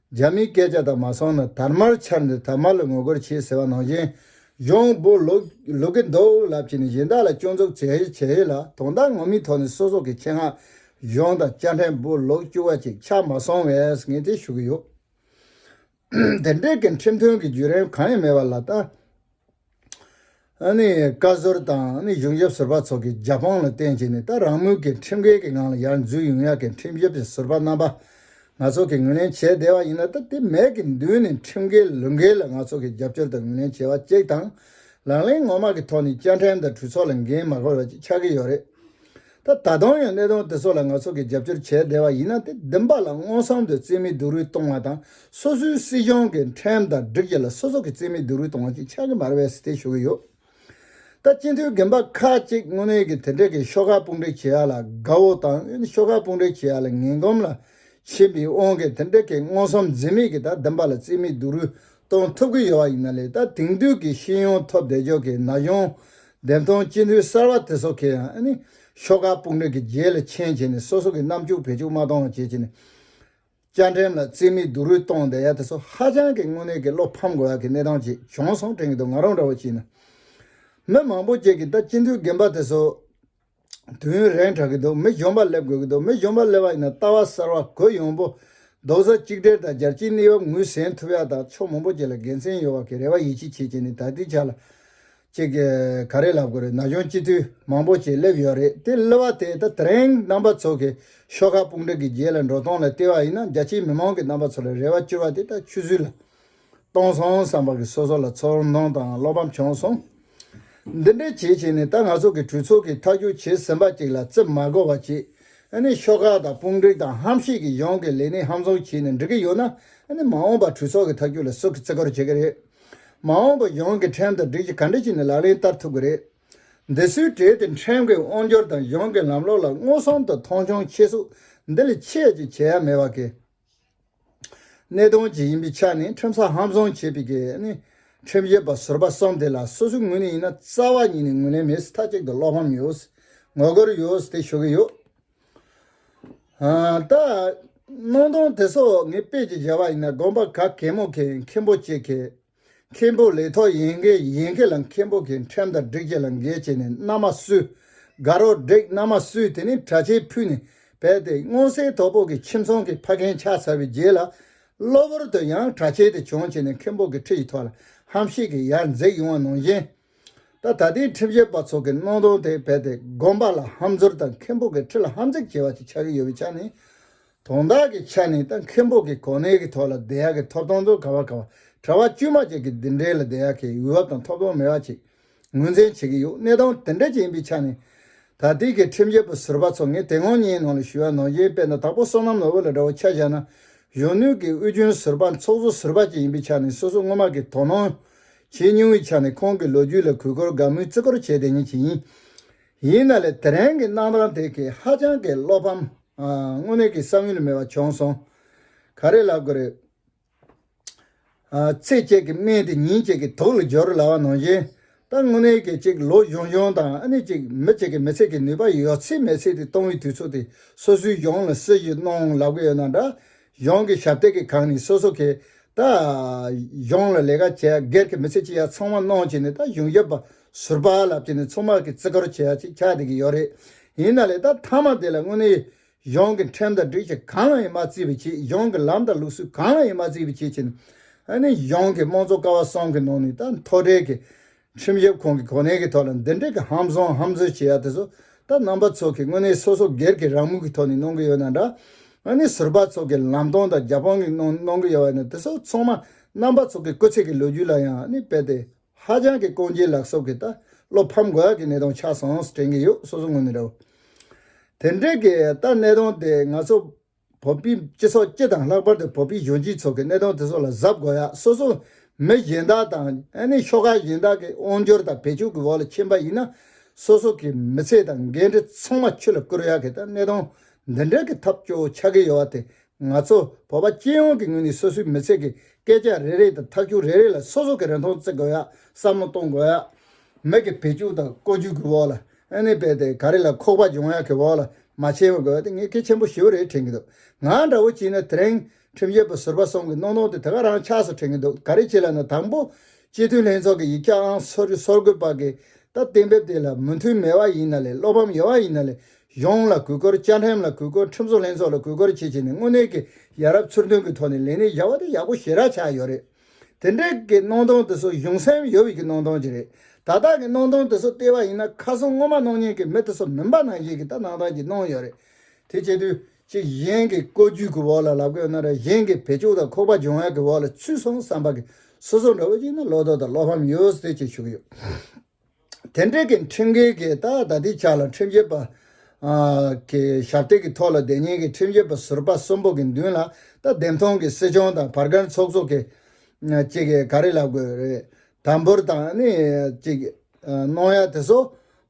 རྒྱ་མིའི་སྐད་ཆ་དག་མ་སོང་ན་དར་དམར་འཕྱར་འདི་དར་དམར་ལ་ངོ་རྒོལ་བྱེད་ཟེར་བ་ནང་བཞིན་གཞོང་པོ་ལོག་གི་འདུག་ལབ་ཀྱི་ནི་གཞན་དག་ལ་སྐྱོན་འཛུགས་བྱེད་ཧེ་བྱེད་ཧེ་ལ་དོན་དག་ངོ་མི་ཐོག་ནས་སོ་སོ་གི་ཆེད་མངགས་གཞོང་དང་བཅར་འཕྲན་པོ་ལོག་བཅུ་བ་ཅིག་ཆགས་མ་སོང་བས་ངས་དེ་ཞུ་གི་ཡོད། དེ་འབྲེལ་གྱི་འཕྲིན་ཐུང་གི་བརྒྱུད་རིམ་གང་ཡང་མེད་པ་ལ་ལྟ། བཀའ་ཟུར་དང་གཞུང་ཞབས་ཟུར་པ་ཚོ་གིས་རྒྱ་དཔང་ལ་བརྟེན་བྱས་ནས་ད་རང་མོས་ཀྱིས་ཁྲིམས་འགལ་གྱི་ངང་ལ་ཡར་འཛུལ་ཡོང་ཡག་གི་ཁྲིམས་ཞབས་ཟུར་པ་རྣམ་པ་ང་ཚོ་གིས་ངོས་ལེན་བྱས་བསྡད་པ་ཡིན་ན་ད་དེ་མེད་ཀྱི་མདུན་ནས་ཁྲིམས་འགལ་ལུགས་འགལ་ལ་ང་ཚོ་གིས་རྒྱབ་སྐྱོར་དང་ངོས་ལེན་བྱས་པ་གཅིག་དང་ལག་ལེན་ངོ་མ་གི་ཐོག་ནས་བཅའ་ཁྲིམས་དང་གྲོས་ཚོགས་ལ་འགན་མ་འཁུར་བ་གཅིག་ཆགས་ཀྱི་ཡོད་རེད། ད་ད་དུང་ཡང་གནད་དོན་དེ་ཚོ་ལ་ང་ཚོ་གིས་རྒྱབ་སྐྱོར་བྱས་བསྡད་པ་ཡིན་ན་དེ་བདེན་པ་ལ་སྔོན་བསམ་དུ་རྩིས་མེད་སྡུག་རུས་གཏོང་བ་དང་སོ་སོའི་སྲིད་གཞུང་གི་ཁྲིམས་དང་སྒྲིག་གཞི་ལ་སོ་སོ་གིས་རྩིས་མེད་སྡུག་རུས་གཏོང་བ་ཞིག་ཆགས་ཀྱི་མ་རེད་བས་སི་ཐད་ཞུ་གི་ཡོད། ད་སྤྱི་འཐུས་རྒན་པ་ཁ་ཅིག་དངོས་གནས་ཀྱི་དེ་འདྲས་ཀྱི་ཤོག་ཁག་དཔུང་སྒྲིག་བྱེད་ཡག་ལ་དགའ་བོ་དང་ཤོག་ཁག་དཔུང་སྒྲིག་བྱེད་ཡག་ལ་ངན་གོམས་ལ་ཕྱིན་པའི་དབང་གིས་དེ་འདྲས་ཀྱི་སྔོན་བསམ་རྩིས་མེད་ཀྱི་ད་བདེན་པ་ལ་རྩིས་མེད་སྡུག་རུས་གཏོང་ཐུབ་ཀྱི་ཡོད་པ་ཡིན་ན་ལས་ད་དེང་དུས་ཀྱི་ཤེས་ཡོན་ཐོབ་བདེ་ཕྱོགས་ཀྱི་ན་གཞོན་འདེམས་ཐོན་སྤྱི་འཐུས་གསར་བ་དེ་ཚོ་གས་ཡང་ཤོག་ཁག་དཔུང་སྒྲིག་གི་རྗེས་ལ་འཆན་བྱས་ནས་སོ་སོ་གི་ནམ་ཕྱུག་བེད་སྤྱོད་མ་གཏོང་བ་བྱེད་ཀྱི་ནས་བཅའ་ཁྲིམས་ལ་རྩིས་མེད་སྡུག་རུས་གཏོང་བསྡད་ཡ་དེ་ཚོ་ཧ་ཅང་གི་དངོས་གནས་ཀྱི་བློ་ཕམ་དགོས་ཡ་གི་གནས་སྟངས་ཅིག་བྱུང་སོང་དྲན་གྱི་འདུག་ང་རང་འདྲ་བོ་བྱས་ན་མི་མང་པོ་བཅས་ཀྱི་ད་སྤྱི་འཐུས་རྒན་པ་དེ་ཚོ་དུས་ཡུན་རན་དྲག་གི་འདུག་མི་གཞོན་པ་སླེབས་དགོས་ཀྱི་འདུག་མི་གཞོན་པ་སླེབས་པ་ཡིན་ན་ལྟ་བ་གསར་བ་གོ་ཡོང་པོ་འདུག་གཟའ་གཅིག་སྦྲེལ་དང་སྦྱར་གྱིས་གནས་བབ་ངོས་ཟིན་ཐུབ་ཡག་དང་ཕྱོགས་མང་པོ་བཅས་ལ་དགེ་མཚན་ཡོད་བ་གི་རེ་བ་ཡིད་ཆེས་བྱེད་ཀྱི་ནི་ད་ལྟའི་ཆ་ལ་གཅིག་ག་རེ་ལབ་དགོས་རེད་ན་གཞོན་སྐྱེས་དུས་མང་པོ་བཅས་སླེབས་ཡོད་རེད་དེ་སླེབས་བ་དེས་ད་ཐེངས་རྣམ་པ་ཚོ་གི་ཤོག་ཁ་དཔུང་སྒྲིག་གི་རྗེས་ལ་འགྲོ་སྟངས་ལ་བལྟས་བ་ཡིན་ན་རྒྱ་ཆེའི་མི་མང་གི་རྣམ་པ་ཚོ་ལ་རེ་བ་བཅོལ་བ་དེ་ད་ཆུད་ཟོས་ལ། གཏོང་སོང་བསམ་པ་གིས་སོ་སོ་ལ་ཚོར་སྣང་དང་བློ་ཕམ་བྱུང་སོང། འདི་འདྲའི་བྱེད་བྱེད་ནས་ད་ང་ཚོ་གི་གྲོས་ཚོགས་ཀྱི་མཐའ་འཁྱོལ་བྱས་ཟིན་པ་ཅིག་ལ་རྩིབ་མ་གོ་བ་བྱེད་ནས་ཤོག་ཁག་དང་དཔུང་སྒྲིག་དང་ཧམ་བཤད་ཀྱིས་གཞུང་གི་ལས་གནས་ཧམ་བཟུང་བྱས་ནས་འགྲིག་གི་ཡོད་ན་མ་འོངས་པར་གྲོས་ཚོགས་ཀྱི་མཐའ་འཁྱོལ་ལ་སུ་གིས་བརྩི་བཀུར་བྱེད་ཀྱི་རེད། མ་འོངས་པར་གཞུང་གི་ཁྲིམས་དང་སྒྲིག་གཞི་ག་འདྲ་ཞིག་ནི་ལག་ལེན་བསྟར་ཐུབ་ཀྱི་རེད། འདི་སུའི་གྲས་དེ་ཁྲིམས་ཀྱི་དབང་སྒྱུར་དང་གཞུང་གི་ལམ་ལུགས་ལ་མངོན་སུམ་དུ་མཐོང་ཆུང་ཆེ་ཟུག་འདི་ལས་ཆེས་ཅིག་བྱེད་ཡ་མེད་པ་གིས། གནད་དོན་གཅིག་ཡིན་པའི་ཆ་ནས་ཁྲིམས་ས་ཧམ་བཟུང་བྱས་པའི་ཁྲིམས་ཞིབ་པ་ཟུར་པ་གསུམ་དེ་ལ་སོ་སོའི་ངོས་ནས་ཡིན་ན་རྩ་བ་ཉིད་ནས་ངོས་ལེན་མེད་སྲིད་མཐའ་གཅིག་ཏུ་བློ་ཕམ་ཡོད་སྲིད་ངོ་རྒོལ་ཡོད་སྲིད་དེ་ཞུ་གི་ཡོད། ད། སྣང་སྟོང་དེ་སོགས་ངས་དཔེ་གཅིག་བཞག་པ་ཡིན་ན་དགོངས་པ་ག་གེ་མོ་གེ་མཁན་པོ་གཅིག་གིས་མཁན་པོ་ལས་ཐོག་ཡན་གྱི་ཡན་གྱི་ལ་མཁན་པོ་གྱི་ཁྲིམས་དང་བསྒྲིགས་བྱས་ལ་འགལ་བྱས་ནས་མནའ་མ་བསུས། དགའ་རོགས་བསྒྲིགས་མནའ་མ་བསུས་དེ་ནས་དྲ་ཆས་ཕུད་ནས་བས་ཏེ་སྔོ་སེར་དོ་པོ་གྱི་ཁྱིམ་ཚང་གི་ཕ་རྒན་ཕྱག་འཚལ་བའི་རྗེས་ལ། གློ་བུར་དུ་ཡང་དྲ་ཆས་དེ་བྱུང་བྱས་ནས་མཁན་པོ་གྱི་ཁྲི་ཡི་ཐོག་ལ་ཧམ་བཤད་ཀྱིས་ཡར་འཛེགས་ཡོང་བ་ནང་བཞིན། ད་ད་ལྟའི་ཁྲིམས་བཤད་པ་ཚོ་གི་སྣང་སྟོང་དེ་བས་ཏེ་དགོན་པ་ལ་ཧམ་འཛུར་དང་མཁན་པོ་གྱི་ཁྲི་ལ་ཧམ་འཛེགས་བྱས་པ་ཅིག་ཆགས་ཀྱི་ཡོད་པའི་ཆ་ནས། དོན་དག་གི་ཆ་ནས་ད་མཁན་པོ་གི་གོ་གནས་ཀྱི་ཐོག་ལ་བདེ་ཡག་གི་ཐོབ་ཐང་དུ་ག་བ་ག་བ་གྲྭ་བ་དཀྱུས་མ་བཅས་ཀྱི་འདི་འདྲའི་ལ་བདེ་ཡག་གི་འོས་བབ་དང་ཐོབ་ཐང་མེད་པ་ཅིག་ངོས་འཛིན་བྱེད་ཀྱི་ཡོད་གནས་སྟངས་དེ་འདྲ་ཅིག་ཡིན་པའི་ཆ་ནས། ད་ལྟའི་གི་ཁྲིམས་རྒྱལ་པོ་ཟུར་པ་ཚོ་ངས་དེ་སྔོན་ངའི་ནང་ལ་ཞུ་བ་ནང་བཞིན་དཔེ་ན་དྭགས་པོ་བསོད་ནམས་ནོར་བུ་ལ་འདྲ་བོ་ཆ་བཞག་ན་གཞོན་ནུ་གི་དབུས་རྒྱུན་ཟུར་པ་ཚོགས་གཙོ་ཟུར་པ་ཅིག་ཡིན་པའི་ཆ་ནས་སོ་སོ་སྔོན་མ་གི་དོ་སྣང་བྱེད་མྱོང་བའི་ཆ་ནས་ཁོང་གི་ལོ་རྒྱུས་ལ་གུས་བཀུར་དགའ་མོས་བརྩི་བཀུར་བྱེད་བདེ་ཉེན་ཅིག་ཡིན། ཡིན་ན་ལས་དེ་རིང་གི་གནང་སྟངས་དེ་གིས་ཧ་ཅང་གི་བློ་ཕམ། དངོས་གནས་ཀྱི་བསམ་ཡུལ་མེད་པ་བྱུང་སོང། ག་རེ་ལབ་དགོས་རེད། ཚེ་བཅད་ཀྱི་སྨན་དེ་ཉིན་གཅིག་གི་དོགས་ལ་སྦྱོར་ལ་བ་ནང་བཞིན་ད་དངོས་གནས་ཀྱི་ཅིག་ལོ་གཞུང་གཞུང་དང་ཨ་ནི་ཅིག་མི་གཅིག་གི་མི་ཚེ་གི་ནུས་པ་ཡོད་ཚད་མེད་ཚད་དེ་གཏོང་བའི་དུས་ཚོད་དེ་སོ་སོའི་གཞུང་ལ་སྲི་ཞུ་གནང་ལབ་གི་ཡོད་ན་འདྲ་གཞུང་གི་ཞབས་སྟེགས་ཀྱི་ཁག་ནི་སོ་སོ་གིས་ད་གཞུང་ལ་ལས་ཀ་བྱེད་ཡ་སྒེར་གྱི་མི་ཚེ་སྐྱེལ་ཡ་ཚང་མ་གནང་བྱས་ནས་ད་གཞུང་ཞབས་པ་ཟུར་པ་ལབ་བྱས་ནས་མཚུངས་མར་གྱི་བརྩི་བཀུར་བྱེད་ཡ་ཅིག་ཆགས་བསྡད་ཀྱི་ཡོད་རེད། ཡིན་ན་ལས་ད་མཐའ་མ་དེ་ལ་དངོས་གནས་གཞུང་གི་ཁྲིམས་དང་སྒྲིག་གཞི་གང་ལ་ཡང་མ་བརྩི་བའི་ཆེད་གཞུང་གི་ལམ་དང་ལུགས་སྲོལ་གང་ལ་ཡང་མ་བརྩི་བའི་ཆེད་བྱས་ནས་གཞུང་གི་དམངས་གཙོ་ཀ་བ་གསུམ་གྱི་ནང་ནས་ད་མཐོ་གྲས་ཀྱི་ཁྲིམས་ཞིབ་ཁང་གི་གོ་གནས་ཀྱི་ཐོག་ལ་འདི་འདྲའི་གི་ཧམ་བཟང་ཧམ་བཟོས་བྱེད་ཡ་དེ་ཚོ་ད་རྣམ་པ་ཚོ་གི་དངོས་གནས་སོ་སོ་སྒེར་གི་རང་མོས་ཀྱི་ཐོག་ནས་གནོང་གི་ཡོད་ན་འདྲ། དངོས་གནས་ཟུར་པ་ཚོ་གི་ལམ་སྟོན་དང་རྒྱབ་དཔང་གི་ནང་གནོང་གི་ཡོད་བ་ནི་དེ་ཚོ་ཚང་མ་རྣམ་པ་ཚོ་གི་སྐུ་ཚེགས་ཀྱི་ལོ་རྒྱུས་ལ་ཡང་ནི་དཔེ་དེ་ཧ་ཅང་གི་དཀོན་རྒྱའི་ལག་སོབ་གི་ད་བློ་ཕམ་དགོས་ཡ་གི་གནས་སྟངས་ཆགས་སོང་ཟེར་དྲན་གི་ཡོད་སོ་སོ་དངོས་ནས་རེད་བ། དེ་འདྲའི་གི་ད་གནས་སྟངས་དེ་ང་ཚོ་བོད་པའི་སྤྱི་ཚོགས་སྤྱི་དང་ལྷག་པར་དུ་བོད་པའི་གཞོན་སྐྱེས་ཚོ་གི་གནས་སྟངས་དེ་ཚོ་ལ་གཟབ་དགོས་ཡ་སོ་སོ་མི་གཞན་དག་དང་ཨ་ནི་ཤོག་ཁག་གཞན་དག་གི་དབང་འབྱོར་དང་བེད་སྤྱོད་ཀྱི་འོག་ལ་ཕྱིན་པ་ཡིན་ན་སོ་སོ་གི་མི་ཚེ་དང་འགན་འཁྲི་ཚང་མ་ཆུ་ལ་བསྐུར་ཡ་གི་ད་གནས་སྟངས་འདི་འདྲ་གི་ཐབས་སྐྱོ་བོ་ཆགས་གི་ཡོད་བ་དེ་ང་ཚོ་བོད་པ་སྤྱི་ཡོངས་ཀྱི་ངོས་ནས་སོ་སོའི་མི་ཚེ་གི་སྐད་ཆ་རེ་རེ་དང་ཐབས་སྐྱོ་རེ་རེ་ལ་སོ་སོ་གི་རིན་ཐང་བརྩི་དགོས་ཡ་བསམ་བློ་གཏོང་དགོས་ཡ་མི་གི་བེད་སྤྱོད་དང་བཀོལ་སྤྱོད་ཀྱི་འོག་ལ་ཨ་ནི་བས་ཏེ་ག་རེ་ལ་ཁོག་པ་སྦྱོང་ཡག་གི་འོག་ལ་མ་ཕྱིན་བ་དགོས་ཏེ་ངས་གལ་ཆེན་པོ་ཞེ་བོ་རེ་དྲན་གི་འདུག་ང་འདྲ་བོ་ཅིག་ནི་དེ་རིང་ཁྲིམས་རྒྱལ་པོ་ཟུར་པ་སོང་གི་གནོང་གནོང་དེ་དེ་ག་རང་ཆགས་སུ་དྲན་གི་འདུག་ག་རེ་བྱས་ལ་ནི་དང་པོ་སྤྱི་འཐུས་ལྷན་ཚོགས་ཀྱི་ཡིག་ཆ་ཨང་སོ་བཅུ་སོར་དགུ་པ་གི་ད་གཏན་འབེབས་དེ་ལ་མོས་མཐུན་མེད་བ་ཡིན་ན་ལས་བློ་ཕམ་ཡོད་བ་ཡིན་ན་ལས་གཞུང་ལ་གུས་བཀུར་བཅའ་ཁྲིམས་ལ་གུས་བཀུར་ཁྲིམས་བཟོ་ལྷན་ཚོགས་ལ་གུས་བཀུར་བྱེད་བྱེད་ནས་དངོས་གནས་ཀྱི་ཡ་རབས་ཚུར་མཐུན་གྱི་ཐོག་ནས་ལས་གནས་བཞག་བ་དེ་ཡག་པོ་ཞེ་དྲག་ཆགས་ཡོད་རེད། དེ་འདྲའི་གི་སྣང་སྟོང་དེ་ཚོ་གཞུང་སེམས་ཡོད་ཀྱི་སྣང་སྟོང་གཅིག་རེད། ད་དག་གི་སྣང་སྟོང་དེ་ཚོ་ལྟེ་བ་ཡིན་ན་ཁ་སང་སྔོན་མ་སྣང་བརྙན་གྱི་མི་དེ་ཚོ་མིན་པ་ནང་བཞིན་གྱི་ད་སྣང་སྟོང་གཅིག་སྣང་ཡོད་རེད། དེ་བྱེད་དུས་གཅིག་གཞན་གྱི་བཀོལ་སྤྱོད་ཀྱི་འོག་ལ་ལབ་དགོས་ན་ར་གཞན་གྱི་བེད་སྤྱོད་དང་ཁོག་པ་སྦྱོང་བའི་གི་འོག་ལ་ཚུད་སོང་བསམ་པ་གི་སོ་སོ་འདྲ་བོ་ཅིག་ན་བློ་དོག་དང་བློ་ཕམ་ཡོད་ཟེར་ཅིག་བྱུགས་ཡོད། དེ་འབྲེལ་གྱི་ཁྲིམས་འགལ་གྱི་ལྟ་བ་དག་དེའི་ཆ་ལ་ཁྲིམས་བཤེར་པ་གྱི་ཞབས་སྟེགས་ཀྱི་ཐོག་ལ་སྡེ་གཉིས་ཀྱི་ཁྲིམས་བཤེར་པ་ཟུར་པ་གསུམ་པོ་གྱི་མདུན་ལ་ལྟ་འདེམས་ཐོང་གི་སྲིད་སྐྱོང་དང་བར་སྒར་ཚོགས་གཙོ་གྱིས་གཅིག་གིས་ག་རེ་ལབ་དགོས་རེད་དམ་འབུར་དང་ནི་གཅིག་གནོང་ཡ་དེ་ཚོ་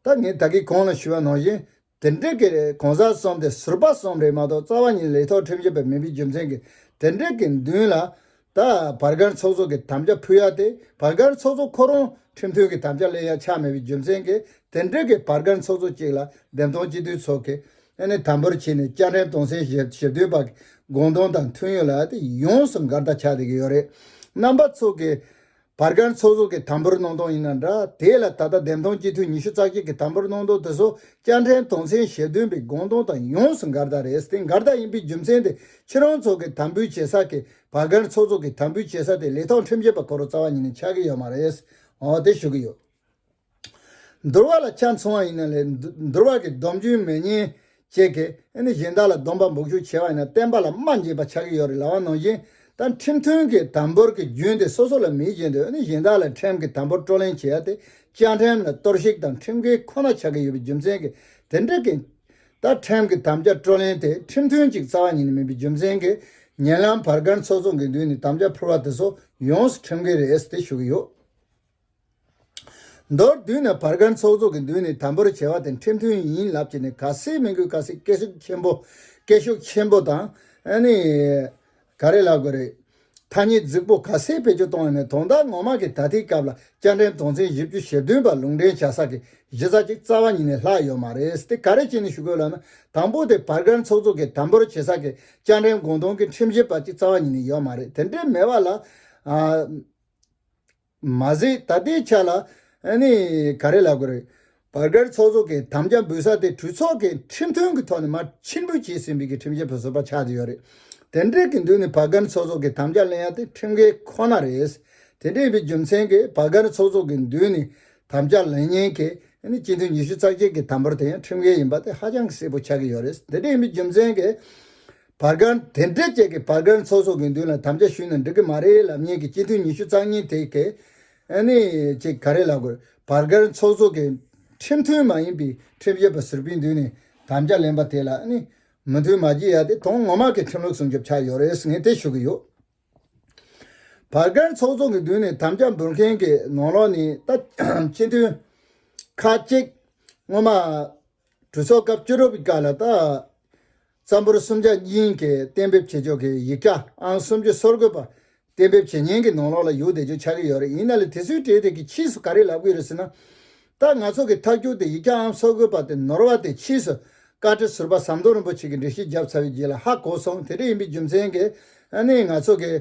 ད་ངས་ད་གིས་གང་ལ་ཞུ་བ་ནང་བཞིན་དེ་འབྲེལ་གྱི་རེད་གོང་ས་གསུམ་དེ་ཟུར་པ་གསུམ་རེད་མ་གཏོགས་རྩ་བ་ཉིད་ལེགས་ཐོག་ཁྲིམས་བྱེད་པའི་མི་བུའི་རྒྱུ་མཚན་གྱི་དེ་འབྲེལ་གྱི་མདུན་ལ། ད་བར་གར་ཚོགས་གཙོ་གི་དམ་བཅའ་ཕུལ་ཡ་དེ་བར་གར་ཚོགས་གཙོ་ཁོ་རང་ཁྲིམས་མཐུན་གྱི་དམ་བཅའ་གླེང་ཡ་ཆགས་མེད་པའི་རྒྱུ་མཚན་གྱི་དེ་འབྲེལ་གྱི་བར་གར་ཚོགས་གཙོ་གཅིག་ལ་འདེམས་ཐོང་སྤྱི་འཐུས་ཚོགས་ཀྱི་ནས་དམ་པོར་ཕྱིན་ནས་བཅའ་ཁྲིམས་སྟོང་ཚན་ཞེ་བདུན་པ་གི་དགོངས་དོན་དང་མཐུན་ཡོད་ལ་དེ་ཡོངས་སུ་འགར་ལྟ་ཆགས་བསྡད་ཀྱི་ཡོད་རེད་རྣམ་པ་ཚོགས་ཀྱི། བར་སྐར་ཚོགས་གསོག་གི་དམ་པོར་སྣང་སྟོང་ཡིན་ན་འདྲ་དེ་ལ་ད་ལྟ་བདེན་སྟོང་སྤྱི་འཐུས་ཉི་ཤུ་རྩ་གཅིག་གི་དམ་པོར་སྣང་སྟོང་དེ་སོ་སྐྱ་འདྲེན་དོང་ཚན་ཞེ་བདུན་པའི་དགོངས་དོན་དང་ཡོངས་སུ་འགལ་ཟླ་རེད་དེ་འགལ་ཟླ་ཡིན་པའི་རྒྱུ་མཚན་དེ་ཁྱེད་རང་ཚོ་གི་དམ་འབུལ་བྱེད་ས་ཀྱི་བར་སྐར་ཚོགས་གསོག་གི་དམ་འབུལ་བྱེད་ས་དེ་ལས་ཐོག་ཁྲིམས་བཅད་པ་གོ་རོ་རྩ་བ་ཉིད་ནས་ཆགས་ཀྱི་ཡོད་མ་རེད་འོ་དེ་ཞུ་གི་ཡོད། འདོར་བ་ལ་ཆ་མཚུངས་བ་ཡིན་ན་ལས་འདོར་བ་གི་སྡོམ་རྒྱུན་མེད་ཉེས་བྱས་ཀྱི། གཞན་དག་ལ་སྡོམ་པ་འབོག་ཞུགས་བྱས་བ་ཡིན་ན་བསྟན་པ་ལ་སྨྲ་འཇིག་པ་ཆགས་ཀྱི་ཡོད་རེད་ལ་བ་ནོར་བཞིན་དང་ཁྲིམས་མཐུན་གྱི་དམ་པོར་གྱི་རྒྱུན་དེ་སོ་སོ་ལ་མི་བཞེད་འདོད་གཞན་དག་ལ་ཁྲིམས་གྱི་དམ་པོར་བཀྲོ་ལེན་བྱེད་ཡ་དེ་བཅའ་ཁྲིམས་ལ་གཏོར་བཤིག་དང་ཁྲིམས་འགལ་ཁོ་ན་ཆགས་ཀྱི་ཡོད་པའི་རྒྱུ་མཚན་གྱིས་དེ་འགྲིག་གི། ད་ཁྲིམས་གྱི་དམ་བཅའ་བཀྲོ་ལེན་དེ་ཁྲིམས་མཐུན་ཅིག་རྩ་བ་ཉིད་ནས་མིན་པའི་རྒྱུ་མཚན་གྱིས་ཉེ་ལམ་བར་སྒར་ཚོགས་གཙོ་འགས་མདུན་ནས་དམ་བཅའ་ཕུལ་བ་དེ་ཚོ་ཡོངས་སུ་ཁྲིམས་འགལ་རེད་ཟེར་ཏེ་ཞུ་གི་ཡོད། མདོར་བསྡུས་ན་བར་སྒར་ཚོགས་གཙོ་གི་མདུན་ནས་དམ་པོར་བྱ་བ་དེ་འཁྲབ་མཐུན་ཡིན་ལབ་ཀྱི་ནི་ག་སེ་མི་དགོས་ག་སེ་སྐད་ཤུགས་ཆེན་པོ་སྐད་ཤུགས་ཆེན་པོ་དང་ནི། ག་རེ་ལབ་དགོས་རེད། ཐ་སྙད་རྫིག་པོ་ག་སེ་བེད་སྤྱོད་གཏོང་ཡོད་ནི་དོན་དག་ངོ་མ་གི་ད་ལྟའི་སྐབས་ལ་བསྐྱར་འགྲན་དོན་ཚན་བཞི་བཅུ་ཞེ་བདུན་པ་ལུང་འདྲེན་བྱ་ས་གི་གཞི་རྩ་གཅིག་རྩ་བ་ཉིད་ནས་ལྷག་ཡོད་མ་རེད་དེ་ག་རེ་བྱས་ནས་ཞུ་དགོས་ལབ་ན་དང་པོ་དེ་བར་སྒར་ཚོགས་གཙོ་གི་དམ་པོར་བྱེད་ས་གི་བསྐྱར་འགྲན་དགོངས་དོན་གི་ཁྲིམས་ཞིབ་པ་གཅིག་རྩ་བ་ཉིད་ནས་ཡོད་མ་རེད་དེ་འདྲའི་མེད་བ་ལ། མ་ཟད་ད་ལྟའི་ཆ་ལ་ནི་ག་རེ་ལབ་དགོས་རེད། བར་བརྒལ་ཚོགས་གཙོ་གི་དམ་བཅའ་འབུལ་ས་དེ་གྲོས་ཚོགས་ཀྱི་ཁྲིམས་མཐུན་གྱི་ཐོག་ནས་མར་ཕྱིར་འབུལ་བྱས་ཟིན་པའི་གི་ཁྲིམས་བཅད་པ་བཟོ་པ་ཆགས་ཀྱི་ཡོད་རེད། དེ་འབྲེལ་གྱི་མདུན་ནས་བར་བརྒལ་ཚོགས་གཙོ་གི་དམ་བཅའ་གླེང་ཡ་དེ་ཁྲིམས་འགལ་ཁོ་ན་རེད། དེ་འདྲ་ཡིན་པའི་རྒྱུ་མཚན་གྱིས་བར་བརྒལ་ཚོགས་གཙོ་གི་མདུན་ནས་དམ་བཅའ་ལེན་མཁན་གྱི་སྤྱི་འཐུས་ཉི་ཤུ་རྩ་བརྒྱད་ཀྱི་དམ་འབོར་དེ་ཡང་ཁྲིམས་འགལ་ཡིན་པ་དེ་ཧ་ཅང་གི་གསལ་པོ་ཆགས་ཀྱི་ཡོད་རེད། དེ་འདྲ་ཡིན་པའི་རྒྱུ་མཚན་གྱིས། བར་སྒར་དེ་འབྲེལ་བཅས་ཀྱི་བར་སྒར་ཚོགས་གསོག་གི་མདུན་ལ་དམ་བཅའ་ཞུས་ནས་འགྲིག་གི་མ་རེད་ལབ་ཉེན་གྱི་སྤྱི་འཐུས་ཉི་ཤུ་རྩ་གཉིས་དེ་གས་ནས་ཅིག་ག་རེ་ལབ་དགོས་བར་སྒར་ཚོགས་གསོག་གི་ཁྲིམས་མཐུན་མ་ཡིན་པའི་ཁྲིམས་བཞེས་པ་ཟུར་པའི་མདུན་ནས་དམ་བཅའ་ལེན་པ་དེ་ལ་ནི་མོས་མཐུན་མ་བགྱིས་ཡ་དེ་དོན་ངོ་མ་གི་ཁྲིམས་ལུགས་སྲུང་སྐྱོབ་ཆགས་ཡོད་རེད་ངས་དེ་ཞུ་གི་ཡོད། བར་སྒར་ཚོགས་གསོག་གི་མདུན་ནས་དམ་བཅའ་འབུལ་མཁན་གྱི་ནང་ལོགས་ནས་ད་སྤྱི་འཐུས་ཁག་གཅིག་སྔོན་མ་གྲོས་ཚོགས་སྐབས་བཅུ་དྲུག་པའི་སྐབས་ལ་ད་རྩམ་པོར་སུམ་བརྒྱ་གཉིས་ཀའི་གཏན་འབེབས་བྱེད་ཕྱོགས་ཀྱི་ཡིག་ཆ་ཨང་སུམ་ཅུ་སོར་དགུ་པ། གཏན་འབེབས་བྱེད་ཉན་གྱི་ནང་ལོགས་ལ་ཡུག་བདེ་ཅུང་ཆགས་ཀྱི་ཡོད་རེད་ཡིན་ན་ལས་དེ་ཚོའི་གྲས་དེ་གི་ཕྱིས་སུ་ག་རེ་ལབ་གི་རེད་ཟེར་ན། ད་ང་ཚོ་གི་ཐག་གྱུར་ཏེ་ཡིག་ཆ་ཨང་སོར་དགུ་པ་དེ་ནོར་བ་དེ་ཕྱིས་སུ་བཀའ་ཁྲི་ཟུར་པ་ཟམ་གདོང་རིན་པོ་ཆེ་གི་འགྲེལ་བཤད་བརྒྱབ་ཚར་བའི་རྗེས་ལ་ཧ་གོ་སོང་དེ་འདྲ་ཡིན་པའི་རྒྱུ་མཚན་གི་ནི་ང་ཚོ་གི་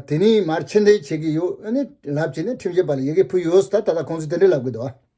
དེ་ནི་མར་ཕྱིར་འཐེན་བྱེད་ཀྱི་ཡོད་ནི་ལབ་བྱས་ནས་ཁྲིམས་བཤད་པ་ལ་ཡི་གེ་ཕུལ་ཡོད་ཟེར་ད་ད་ལྟ་ཁོང་ཚོས་དེ་འདྲ་ལབ་གི་འདུག་ཨ།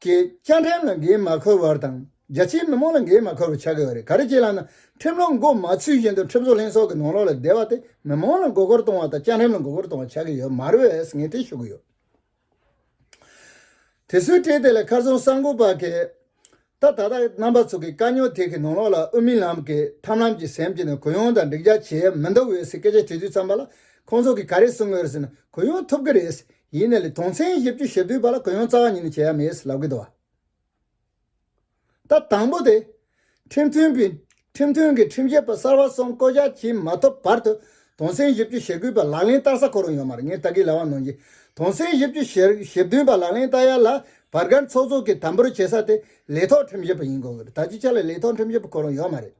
ཀྱི་བཅའ་ཁྲིམས་ལ་འགན་མ་འཁུར་བར་དང་རྒྱ་ཆེའི་མི་མང་ལ་འགན་མ་འཁུར་བར་བྱ་དགོས་པ་རེད་ག་རེ་བྱེད་ལགས་ན་ཁྲིམས་ལུགས་མགོ་མ་ཚུད་བཞིན་དུ་ཁྲིམས་བཟོ་ལྷན་ཚོགས་ཀྱི་ནང་ལོགས་ལ་བསྡད་པ་དེ་མི་མང་ལ་མགོ་སྐོར་གཏོང་བ་དང་བཅའ་ཁྲིམས་ལ་མགོ་སྐོར་གཏོང་བ་ཆགས་ཀྱི་ཡོད་མ་རེད་ངས་དེ་ཤོད་ཀྱི་ཡོད། དེ་སུའི་གྲས་དེ་ལ་མཁར་རྫོང་གསར་འགོ་པ་གིས་ད་ད་ལྟ་རྣམ་པ་ཚོ་གི་དཀའ་རྙོག་དེ་གི་ནང་ལོགས་ལ་དབུ་མི་ལམ་གི་ཐམ་ལམ་གྱི་སེམས་ཀྱི་ནང་གུ་ཡངས་དང་འགྲིག་རྒྱག་བྱེད་ཡ་མི་འདུག་འོད་ཟེར་སྐད་ཆ་དྲི་དུས་ཚངས་པ་ལ་ཁོང་ཚོ་གི་ག་རེ་གསུང་གི་རེད་ཟེར་ན་གུ་ཡངས་ཐུབ་ཀྱི་རེད། ཡིན་ནས་ལས་དོན་ཚན་བཞི་བཅུ་ཞེ་བདུན་པ་ལ་གུ་ཡངས་རྩ་བ་ཉིད་ནས་བྱེད་ཡ་མེད་ལབ་གི་འདུག་ད་དང་པོ་དེ། ཁྲིམས་མཐུན་པའི་ཁྲིམས་མཐུན་གྱི་ཁྲིམས་ཞིབ་པ་གསར་བ་གསུམ་བསྐོ་གཞག་བྱེད་མ་ཐུབ་བར་དུ་དོན་ཚན་བཞི་བཅུ་ཞེ་དགུ་པ་ལག་ལེན་བསྟར་ས་གོ་རུང་ཡོད་མ་རེད་ངས་ད་གིས་ལ་བ་གནང་རྗེས་དོན་ཚན་བཞི་བཅུ་ཞེ་བདུན་པ་ལག་ལེན་བསྟར་ཡ་ལ་བར་སྒར་ཚོགས་གཙོ་གིས་དམ་པོར་བྱེད་ས་དེ་ལས་ཐོག་ཁྲིམས་ཞིབ་པ་ཡིན་དགོས་གི་རེད་ད་ཅིག་ཆ་ལ་ལས་ཐོག་ཁྲིམས་ཞིབ་པ་གོ་རུང་ཡོད་མ་རེད།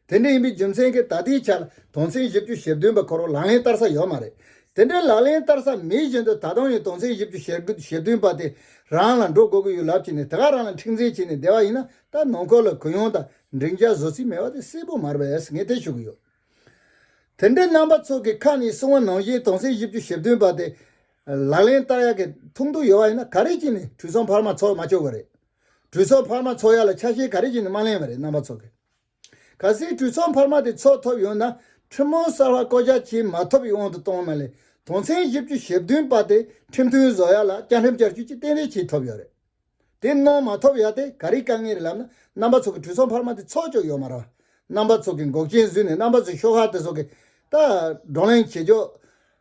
དེ་འདྲ་ཡིན་པའི་རྒྱུ་མཚན་གྱིས་ད་ལྟའི་ཆར་དོན་ཚན་བཞི་བཅུ་ཞེ་བདུན་པ་ཁོར་ལག་ལེན་བསྟར་ས་ཡོད་མ་རེད། དེ་འདྲའི་ལག་ལེན་བསྟར་ས་མེད་བཞིན་དུ་ད་དུང་ཡང་དོན་ཚན་བཞི་བཅུ་ཞེ་བདུན་པ་དེ་རང་ལ་འགྲོ་དགོས་ཀྱི་ཡོད་ལབ་ཀྱིན་ནས་དེ་ག་རང་ལ་མཁྲེགས་འཛིན་བྱས་ནས་བསྡད་པ་ཡིན་ན་ད་ནང་ཁུལ་ལ་གུ་ཡངས་དང་འགྲིག་འཇགས་བཟོ་རྩིས་མེད་པ་དེ་གསལ་པོ་མར་བས་ངས་ཐེ་ཞུ་གི་ཡོད། དེ་འདྲའི་རྣམ་པ་ཚོགས་ཀྱི་ཁ་ནས་གསུང་བ་ནང་བཞིན་དོན་ཚན་བཞི་བཅུ་ཞེ་བདུན་པ་དེ་ལག་ལེན་བསྟར་ཡག་གི་ཐུགས་འདུན་ཡོད་པ་ཡིན་ན་ག་རེ་བྱས་ནས་དུས་བཟང་འཕར་མ་ཚོགས་མ་བཅོག་གི་རེད། གྲོས་ཚོགས་འཕར་མ་འཚོགས་ཡ་ལ་ཆ་ཤས་ག་རེ་བཞིན་ནི་མ་གླེང་བ་རེད་རྣམ་པ་ཚོ་གི། ག་སྲིད་གྲོས་ཚོགས་འཕར་མ་དེ་འཚོགས་ཐོབ་ཡོང་ན་ཁྲིམས་དཔོན་གསར་བ་བསྐོ་གཞག་བྱས་མ་ཐོབ་པའི་དབང་དུ་གཏོང་མ་ལས་དོན་ཚན་བཞི་བཅུ་ཞེ་བདུན་པ་དེ་ཁྲིམས་མཐུན་བཟོ་ཡ་ལ་བཅའ་ཁྲིམས་བསྐྱར་བཅོས་ཀྱི་གཏན་འབེབས་བྱས་ཐོབ་ཡོད་རེད། དེ་གནང་མ་ཐོབ་ཡ་དེ་ག་རེའི་དཀའ་ངལ་རེད་ལབ་ན་རྣམ་པ་ཚོ་གི་གྲོས་ཚོགས་འཕར་མ་དེ་འཚོགས་ཆོག་ཡོད་མ་རེད་རྣམ་པ་ཚོ་གི་འགོག་རྐྱེན་བཟོས་ནས་རྣམ་པ་ཚོ་ཤོག་ཁག་དེ་ཚོ་གི། ད། བགྲོ་གླེང་བྱེད་ཆོག།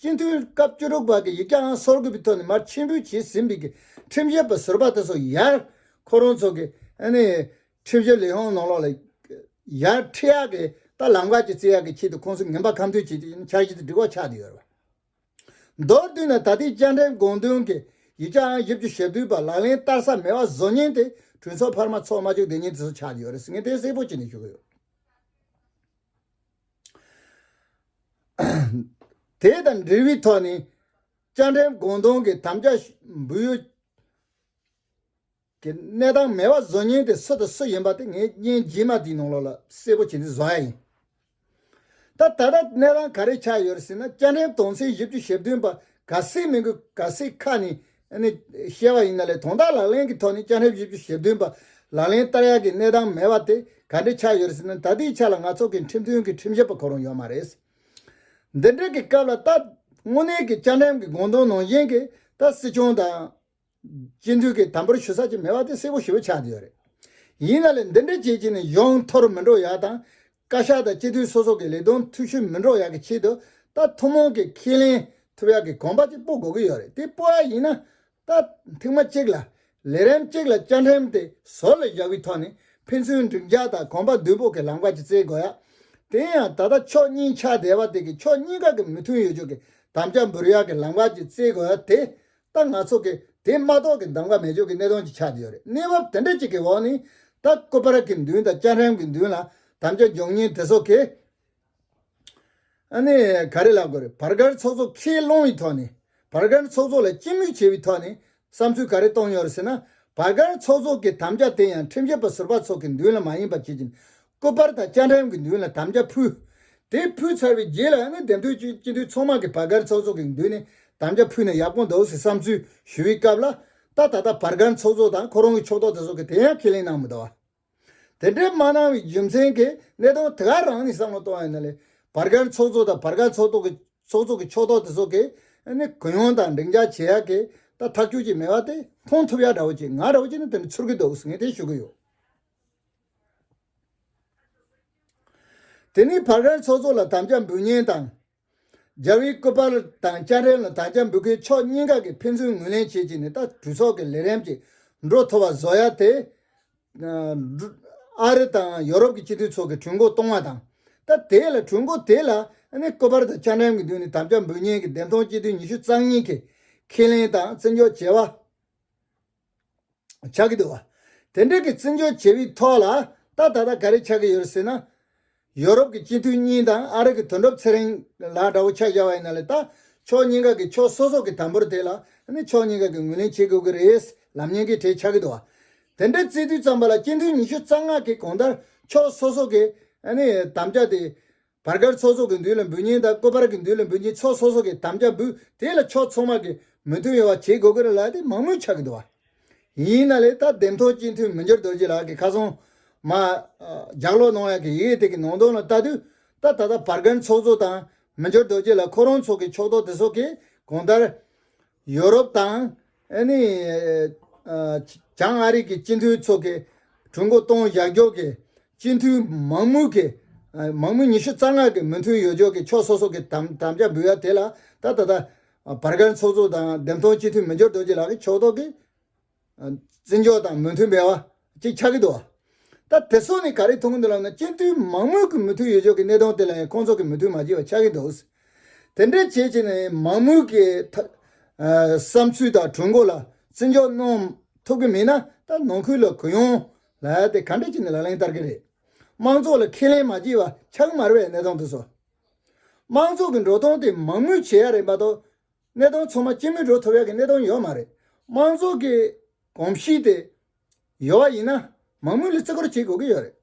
སྤྱི་འཐུས་སྐབས་བཅུ་དྲུག་པ་གི་ཡིག་བསྐྱར་ཨང་སོར་དགུ་པའི་ཐོག་ནས་མར་ཕྱིར་འབུལ་བྱས་ཟིན་པའི་ཁྲིམས་བཤེར་པ་ཟུར་པ་དེ་ཚོ་ཡར་ཁོ་རང་ཚོ་གི་ཁྲིམས་བཤེར་ལས་ཁང་ནང་ལོགས་ལ་ཡར་ཁྲིད་ཡག་གི་ད་ལམ་ཁ་ཅིག་བརྩི་ཡག་གི་ཆེད་དུ་ཁོང་ཚོ་ངན་པ་ཁ་མཐུན་བྱེད་ཆེད་འཆར་གཞི་དང་སྒྲིག་བ་ཆགས་བསྡད་ཡོད་རེད། མདོར་བསྡུས་ན་ད་ལྟའི་བཅར་འདྲིའི་དགོངས་དོན་གི་ཡིག་བསྐྱར་ཨང་བཞི་བཅུ་ཞེ་བདུན་པ་ལག་ལེན་བསྟར་ས་མེད་བ་བཟོ་ཉེན་དེ་གྲོས་ཚོགས་འཕར་མ་ཚོགས་མ་བཅུག་བསྡད་ཉེན་དེ་ཚོ་ཆགས་བསྡད་ཡོད་རེད་ཟེར་ངས་དེ་གསལ་པོ་བྱས་ནས་ཞུ་གི་ཡོད། དེ་དང་འབྲེལ་བའི་ཐོག་ནས་བཅའ་ཁྲིམས་དགོངས་དོན་གྱི་དམ་བཅའ་འབུལ་ཡུལ་གྱི་གནས་སྟངས་མེད་པ་བཟོ་ཉེན་དེ་སུ་དང་སུ་ཡིན་པ་དེ་ངས་བརྙན་རྗེས་མ་དེའི་ནང་ལོགས་ལ་གསལ་པོ་བྱེད་འདི་བཟོ་ཡ་ཡིན། ད་ད་ལྟ་གནས་སྟངས་ག་རེ་ཆགས་ཡོད་ཟེར་ན་བཅའ་ཁྲིམས་དོན་ཚན་བཞི་བཅུ་ཞེ་བདུན་པ་ག་སའི་མིང་གི་ག་སའི་ཁ་ནས་བཤད་པ་ཡིན་ན་ལས་དོན་དག་ལག་ལེན་གྱི་ཐོག་ནས་བཅའ་ཁྲིམས་བཞི་བཅུ་ཞེ་བདུན་པ་ལག་ལེན་བསྟར་ཡག་གི་གནས་སྟངས་མེད་པ་དེ་ག་འདྲའི་ཆགས་ཡོད་རེད་ཟེར་ན་ད་ལྟའི་ཆ་ལ་ང་ཚོ་གིས་ཁྲིམས་དོན་གྱི་ཁྲིམས་ཞིབ་པ་གོ་རུང་ཡོད་མ་རེད། འདི་འདྲ་གི་སྐབས་ལ་ད་དངོས་གནས་ཀྱི་བཅའ་ཁྲིམས་ཀྱི་དགོངས་དོན་ནང་བཞིན་གྱི་ད་སྲིད་སྐྱོང་དང། སྤྱི་འཐུས་ཀྱིས་དམ་པོར་ཞུ་ས་ཅིག་མེད་པ་དེ་གསལ་པོ་ཞིབ་པོ་ཆགས་ཡོད་རེད། ཡིན་ན་ལས་འདི་འདྲ་བྱེད་ཀྱིན་ནས་ཡོང་འཐོར་མི་འགྲོ་ཡག་དང་བཀའ་ཤག་དང་སྤྱི་འཐུས་སོ་སོ་གི་ལས་དོན་འཐུས་ཤུལ་མི་འགྲོ་ཡག་གི་ཆེད་དུ་ད་ཐུན་མོང་གི་ཁས་ལེན་ཐུབ་ཡག་གི་གོམ་པ་གཅིག་སྤོ་དགོས་ཀྱི་ཡོད་རེད་དེ་སྤོ་ཡག་ཡིན་ན་ད་ཐེངས་མ་གཅིག་ལ་ལས་རིམ་གཅིག་ལ་བཅའ་ཁྲིམས་དེ་ཟོར་ལ་བཞག་པའི་ཐོག་ནས་ཕན་ཚུན་འགྲིག་འཇགས་དང་གོམ་པ་བསྡུས་སྤོ་གི་ལམ་ཁ་གཅིག་བཙལ་དགོས་ཡག་དེ་ཡང་ད་ལྟ་ཕྱོགས་གཉིས་ཆགས་བསྡད་པ་དེ་གི་ཕྱོགས་གཉིས་ཀ་གི་མི་མཐུན་ཡོད་ཅོག་གི་དམ་བཅའ་འབུར་ཡག་གི་ལམ་ཁ་གཅིག་བཙལ་དགོས་ཡག་དེ་ད་ང་ཚོ་གིས་དེ་མ་གཏོགས་ཀྱི་འདམ་ག་མེ་སྒྱོགས་ཀྱི་གནས་སྟངས་ཅིག་ཆགས་ཀྱི་ཡོད་རེད་གནས་བབ་དེ་འདྲ་ཅིག་གི་འོག་ནས་ད་ཀོ་པ་ར་གི་མདུན་དང་ལྕགས་ཧྲེམ་གྱི་མདུན་ལ་དམ་བཅའ་འཇོག་ཉེན་དེ་ཚོ་གིས་ཨ་ནི་ག་རེ་ལབ་དགོས་རེད་བར་བརྒལ་ཚོགས་གཙོ་ཁས་བླངས་བའི་ཐོག་ནས་བར་བརྒལ་ཚོགས་གཙོ་ལ་སྤྱི་མོས་བྱས་པའི་ཐོག་ནས་བསམ་ཚུལ་ག་རེ་གཏོང་ཡོང་རེད་ཟེར་ན་བར་བརྒལ་ཚོགས་གཙོ་གི་དམ་བཅའ་དེ་ཡང་ཁྲིམས་ཞིབ་པ་ཟུར་པ་ཚོ་གི་མདུན་ལ་མ་ཡིན་པ་བྱེད་ཀྱིན་སྐུ་པར་དང་སྤྱན་འདྲེན་གྱི་མདུན་ལ་དམ་བཅའ་ཕུལ། དེ་ཕུལ་ཚར་བའི་རྗེས་ལ་ནི་དེ་འདུལ་ཆེན་སྤྱི་འཐུས་ཚོགས་མང་གི་བར་སྒར་ཚོགས་གཙོ་གི་མདུན་ནས་དམ་བཅའ་ཕུལ་ནས་ཡབ་ཀོང་རྡོ་སི་བསམ་ཚུལ་ཞུ་བའི་སྐབས་ལ། ད་ད་ལྟ་བར་སྒར་ཚོགས་གཙོ་དང་ཁོ་རང་གི་ཕྱོགས་གཏོགས་དེ་ཚོ་གི་དེ་ཡང་ཁས་ལེན་གནང་མི་འདུག་བ། དེ་འདྲའི་མ་གནང་བའི་རྒྱུ་མཚན་གྱི་གནད་དོན་དེ་ག་རང་ནས་བསམ་བློ་གཏོང་ཡོད་ན་ལས་བར་སྒར་ཚོགས་གཙོ་དང་བར་སྒར་ཚོགས་གཏོགས་ཀྱི་ཚོགས་གཙོ་གི་ཕྱོགས་གཏོགས་དེ་ཚོ་གི་ནི་གུ་ཡངས་དང་འགྲིག་འཇགས་བྱེད་ཡག་གི་ད་ཐག་གཅོད་ཀྱི་མེད་བ་དེ་མཐོང་ཐུབ་ཡག་འདྲ་བོ་ཅིག་ང་རང་ཅིག་ནི་དེ་འདྲ་ཚུར་གི་འདུག་ངས་དེ་ཞུ་གི་ཡོད། དེ་ནས་བག་རལ་ཚོགས་གཙོ་ལ་དམ་བཅའ་འབུལ་སྙན་དང། རྒྱ་བལ་སྐུ་དཔར་དང་སྤྱན་རས་ལ་དམ་བཅའ་འབུལ་དགོས་ཕྱོགས་གཉིས་ཀ་གི་ཕན་ཚུན་ངོས་ལེན་བྱེད་ཀྱི་ནི་ད་གྲོས་ཚོགས་ཀྱི་ལས་རིམ་གྱི་འགྲོ་ཐོ་བ་བཟོ་ཡ་དེ། ཨ་རི་དང་ཡོ་རོབ་ཀྱི་སྤྱི་འཐུས་ཚོགས་ཀྱི་གྲོས་འགོ་གཏོང་བ་དང། ད་དེ་ལ་གྲོས་འགོ་དེ་ལ་ནི་སྐུ་དཔར་དང་སྤྱན་རས་ཀྱི་མདུན་ནས་དམ་བཅའ་འབུལ་སྙན་གྱི་འདེམས་ཐོན་སྤྱི་འཐུས་ཉི་ཤུ་རྩ་གཉིས་ཀྱིས་ཁས་ལེན་དང་བརྩི་འཇོག་བྱས་བ། ཆགས་ཀྱི་འདུག་བ། དེ་འབྲེལ་གྱི་བརྩི་འཇོག་བྱེད་པའི་ཐོག་ལ་ད་ད་ལྟ་ག་རེ་ཆགས་ཀྱི་ཡོད་རེད་ཟེར་ན། ཡོ་རོབ་ཀྱི་སྤྱི་འཐུས་གཉིས་དང་ཨ་རི་གི་དོན་གྲུབ་ཚེ་རིང་ལགས་འདྲ་བོ་ཆགས་བཞག་བ་ཡིན་ན་ལས་ད་ཕྱོགས་གཉིས་ཀ་གི་ཕྱོགས་སོ་སོ་གི་དམ་པོར་དེ་ལ་ནི་ཕྱོགས་གཉིས་ཀ་གི་ངོས་ལེན་བྱེད་དགོས་ཀྱི་རེད་ལམ་ཉན་གྱི་གྲས་ཆགས་ཀྱི་འདུག་བ། དེ་འདྲའི་བརྩི་དུས་བརྩམས་པ་ལ་སྤྱི་འཐུས་ཉི་ཤུ་རྩ་ལྔ་གི་གོང་ལྟར་ཕྱོགས་སོ་སོ་གི་དམ་བཅའ་དེ། བར་སྐར་ཚོགས་གསོག་གི་འདུས་ལ་འབུལ་ཉིན་དང་བསྐོས་བར་གྱི་འདུས་ལ་འབུལ་ཉིན་ཚོགས་གསོག་སོགས་ཀྱི་དམ་བཅའ་འབུལ་དེ་ལ་ཕྱོགས་ཚང་མ་གི་མོས་མཐུན་ཡོང་བ་བྱེད་དགོས་ཀྱི་རེད་ལགས་ཏེ་མང་མོས་ཆགས་ཀྱི་འདུག་བ། ཡིན་ན་ལས་ད་འདེམས་ཐོག་སྤྱི་འཐུས་མི་འགྱུར་རྡོ་རྗེ་ལགས་ཀྱི་ཁ་སང། མ། ལྗགས་ཀློག་གནང་ཡག་གི་ཡི་གེ་དེ་གི་ནང་དོན་ལ་བལྟ་དུས། ད་ད་ད་བར་སྐར་ཚོགས་གསོག་དང་མི་འགྱུར་རྡོ་རྗེ་ལགས་ཁོ་རང་ཚོ་གི་ཕྱོགས་གཏོགས་དེ་སོགས་ཀྱིས་གང་ལྟར། ཡོ་རོབ་དང། བྱང་ཨ་རིག་གི་སྤྱི་མཐུན་ཚོགས་ཀྱིས་གྲོས་འགོ་གཏོང་བཞག་འཇོག་གི་སྤྱི་མཐུན་མང་མོས་ཀྱི། མང་མོས་ཉི་ཤུ་རྩ་ལྔ་གི་མོས་མཐུན་ཡོ་འཇོག་གི་ཕྱོགས་སོ་སོ་གི་དམ་བཅའ་འབུལ་བ་དེ་ལ་ད་ལྟ། བར་བརྒལ་ཚོགས་གཙོ་དང་འདེམས་ཐོན་སྤྱི་མཐུན་མི་འབྱོར་རྡོ་རྗེ་ལགས་ཀྱིས་ཕྱོགས་གཏོགས་ཀྱིས། བརྩི་འཇོག་དང་མོས་མཐུན་འབེལ་བ་གཅིག་ཆགས་ཀྱི་འདུག་ད་དེ་སོགས་ནི་ག་རེ་མཐོང་གི་འདུག་ལབ་ན་སྤྱི་འཐུས་མང་མོས་ཀྱི་མོས་མཐུན་ཡོད་ཆོག་གི་གནས་སྟངས་དེ་ལ་ཡང་ཁོང་ཚོ་གི་མོས་མཐུན་མ་བྱས་པ་ཆགས་ཀྱི་འདུག་དེ་འདྲའི་བྱས་བྱས་ནས་མང་མོས་ཀྱི་བསམ་ཚུལ་དང་གྲོས་འགོ་ལ་བརྩི་འཇོག་གནང་ཐུབ་ཀྱི་མེད་ན་ད་ནང་ཁུལ་ལ་གུ་ཡངས་ལ་དེ་ག་འདྲ་བྱས་ནས་ལག་ལེན་བསྟར་གྱི་རེད། དམངས་ཚོགས་ལ་ཁས་ལེན་མ་བྱས་པ་ཆགས་ཀྱི་མ་རེད་པའི་གནས་སྟངས་དེ་སོགས་དམངས་ཚོགས་ཀྱི་འགྲོ་སྟངས་དེ་མང་མོས་བྱེད་ཡ་རེད་མ་གཏོགས་གནས་སྟངས་ཚང་མ་སྤྱི་མོས་འགྲོ་ཐུབ་ཡག་གི་གནས་སྟངས་ཡོད་མ་རེད། དམངས་གཙོ་གི་གོམས་གཤིས་དེ་ཡོད་བ་ཡིན་ན་མང་མོས་ལ་བརྩི་བཀུར་བྱེད་དགོས་ཀྱི་ཡོད་རེད།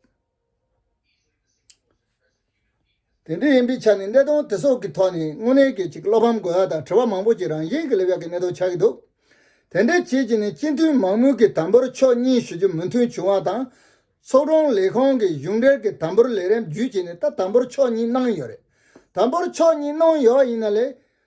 དེ་འདྲ་ཡིན་པའི་ཆ་ནས་གནས་སྟངས་དེ་སོགས་ཀྱི་ཐོག་ནས་དངོས་གནས་ཀྱི་ཅིག་བློ་ཕམ་དགོས་ཡག་དང་དྲི་བ་མང་པོ་ཅིག་རང་བཞིན་གྱི་སླེབས་ཡག་གི་གནས་སྟངས་ཆགས་ཀྱི་འདུག་དེ་འདྲའི་རྗེས་ཀྱི་ནས་སྤྱི་འཐུས་མང་མོས་ཀྱི་དམ་འབུལ་ཕྱོགས་གཉིས་ཞུ་རྒྱུ་མོས་མཐུན་བྱུང་བ་དང། ཚོགས་དྲུང་ལས་ཁང་གི་གཞུང་འབྲེལ་གྱི་དམ་འབུལ་ལས་རིམ་བརྒྱུད་བྱས་ནས་ད་དམ་འབུལ་ཕྱོགས་གཉིས་གནང་ཡོད་རེད། དམ་འབུལ་ཕྱོགས་གཉིས་གནང་ཡོད་བ་ཡིན་ན་ལས།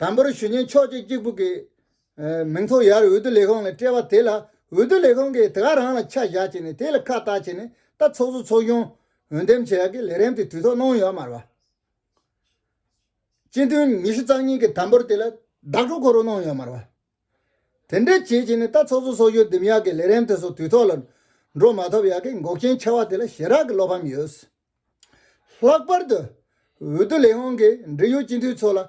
དང་པོར་ཞུ་ཉན་ཆོག་ཅེས་གཅིག་པུ་གི། མིང་ཐོ་ཡར་འོས་བསྡུ་ལས་ཁང་ལ་སྤྲད་པ་དེ་ལ་འོས་བསྡུ་ལས་ཁང་གིས་དེ་ག་རང་ལ་ཆ་བཞག་བྱས་ནས་དེ་ལ་ཁ་བཏགས་བྱས་ནས་ད་ཚོགས་གཙོ་ཚོགས་གཞོན་འོས་འདེམས་བྱེད་ཡག་གི་ལས་རིམ་དེ་དུས་ཐོག་གནང་ཡོད་མ་རེད། སྤྱི་འཐུས་ཉི་ཤུ་རྩ་གཉིས་གིས་དམ་པོར་དེ་ལ་བདག་སྤྲོད་གོ་རུ་གནང་ཡོད་མ་རེད། དེ་འདྲས་བྱས་བྱས་ནས་ད་ཚོགས་གཙོ་ཚོགས་གཞོན་འདེམས་ཡག་གི་ལས་རིམ་དེ་ཚོ་དུས་ཐོག་ལ་འགྲོ་མ་ཐུབ་ཡག་གི་འགོག་རྐྱེན་ཆེ་བ་དེ་ལ་ཞེ་དྲག་གི་བློ་ཕམ་ཡོད། ལྷག་པར་དུ། འོས་བསྡུ་ལས་ཁང་གིས་འབྲེལ་ཡོད་སྤྱི་འཐུས་ཚོ་ལ། འོས་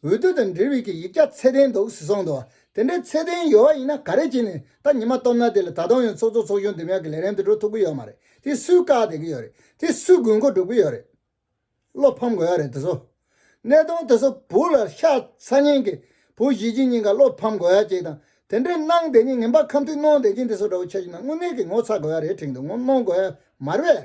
བསྡུ་དང་འབྲེལ་བའི་གི་ཡིག་ཆ་ཚད་ལྡན་འདུག་ཟེར་སོང་འདུག་དེ་འདྲའི་ཚད་ལྡན་ཡོད་ཡིན་ན་ག་རེ་བྱས་ནས་ད་ཉི་མ་སྟོབས་ན་དེ་ལ་ད་དུང་ཡང་ཚོགས་གཙོ་ཚོགས་གཞོན་འདེམས་ཡག་གི་ལས་རིམ་དུ་འགྲོ་ཐུབ་གི་ཡོད་མ་རེད་དེ་སུས་བཀག་བསྡད་ཀྱི་ཡོད་རེད་དེ་སུས་དགོས་མཁོ་སྒྲུབ་ཀྱི་ཡོད་རེད། བློ་ཕམ་དགོས་ཡག་རེད་དེ་ཚོ། གནས་སྟངས་དེ་ཚོ་བུ་ལ་ཤ་ཚ་ཉེན་གི་བུ་གཞིས་བྱེས་གཉིས་ཀ་བློ་ཕམ་དགོས་ཡག་ཅིག་དང་དེ་འདྲའི་གནང་བསྡད་ཉིན་ངན་པ་ཁམས་མཐུན་གནོང་བསྡད་ཅིང་དེ་ཚོ་འདྲ་བོ་ཆགས་ཀྱི་ན་དངོས་གནས་ཀྱི་ངོ་ཚ་དགོས་ཡག་རེད་ཁྲིང་དུ་ངོ་གནོང་དགོས་ཡག་མ་རེད།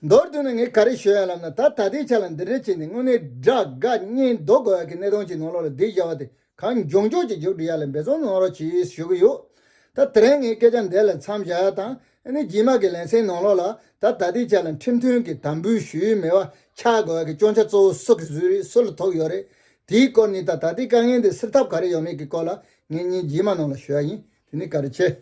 མདོར་བསྡུས་ན་ངས་ག་རེ་ཤོད་ཡ་ལབ་ན་ད་ད་ལྟའི་ཆ་ལ་འདི་འདྲའི་ཆེད་ནས་དངོས་གནས་དགྲ་དགའ་གཉེན་རྡོ་དགོས་ཡག་གི་གནས་སྟངས་ཅིག་ནང་ལོག་ལ་སྡིག་བྱ་བ་དེ་གང་མགྱོགས་མགྱོགས་ཀྱིས་མགྱོགས་འགྲུལ་ཡ་ལ་འབད་བརྩོན་གནང་རོགས་གྱིས་ཞུ་གི་ཡོད། ད་དེ་རིང་ངས་སྐད་ཆ་འདི་ལ་མཚམས་བཞག་ཡ་དང་ཨ་ནི་སྦྱིན་མ་གི་ལན་སེང་ནང་ལོག་ལ་ད་ད་ལྟའི་ཆ་ལ་ཁྲིམས་མཐུན་གྱི་དམ་འབུལ་ཞུའི་མེ་བ་འཁྱག་དགོས་ཡག་གི་སྐྱོང་ཆ་གཙོ་བོ་སུ་གི་བཟོས་རིགས་སུ་ལ་ཐོབ་ཡོད་རེད་དེའི་སྐོར་ནི་ད་ད་ལྟའི་དཀའ་ངལ་འདི་སེལ་ཐབས་ག་རེ་ཡོད་མེད་ཀྱི་སྐོར་ལ་ངེད་གཉིས་སྦྱིན་མ་ནང་ལ་ཞུ་ཡ་ཡིན་དེ་ནི་ག་རེ་བྱེད།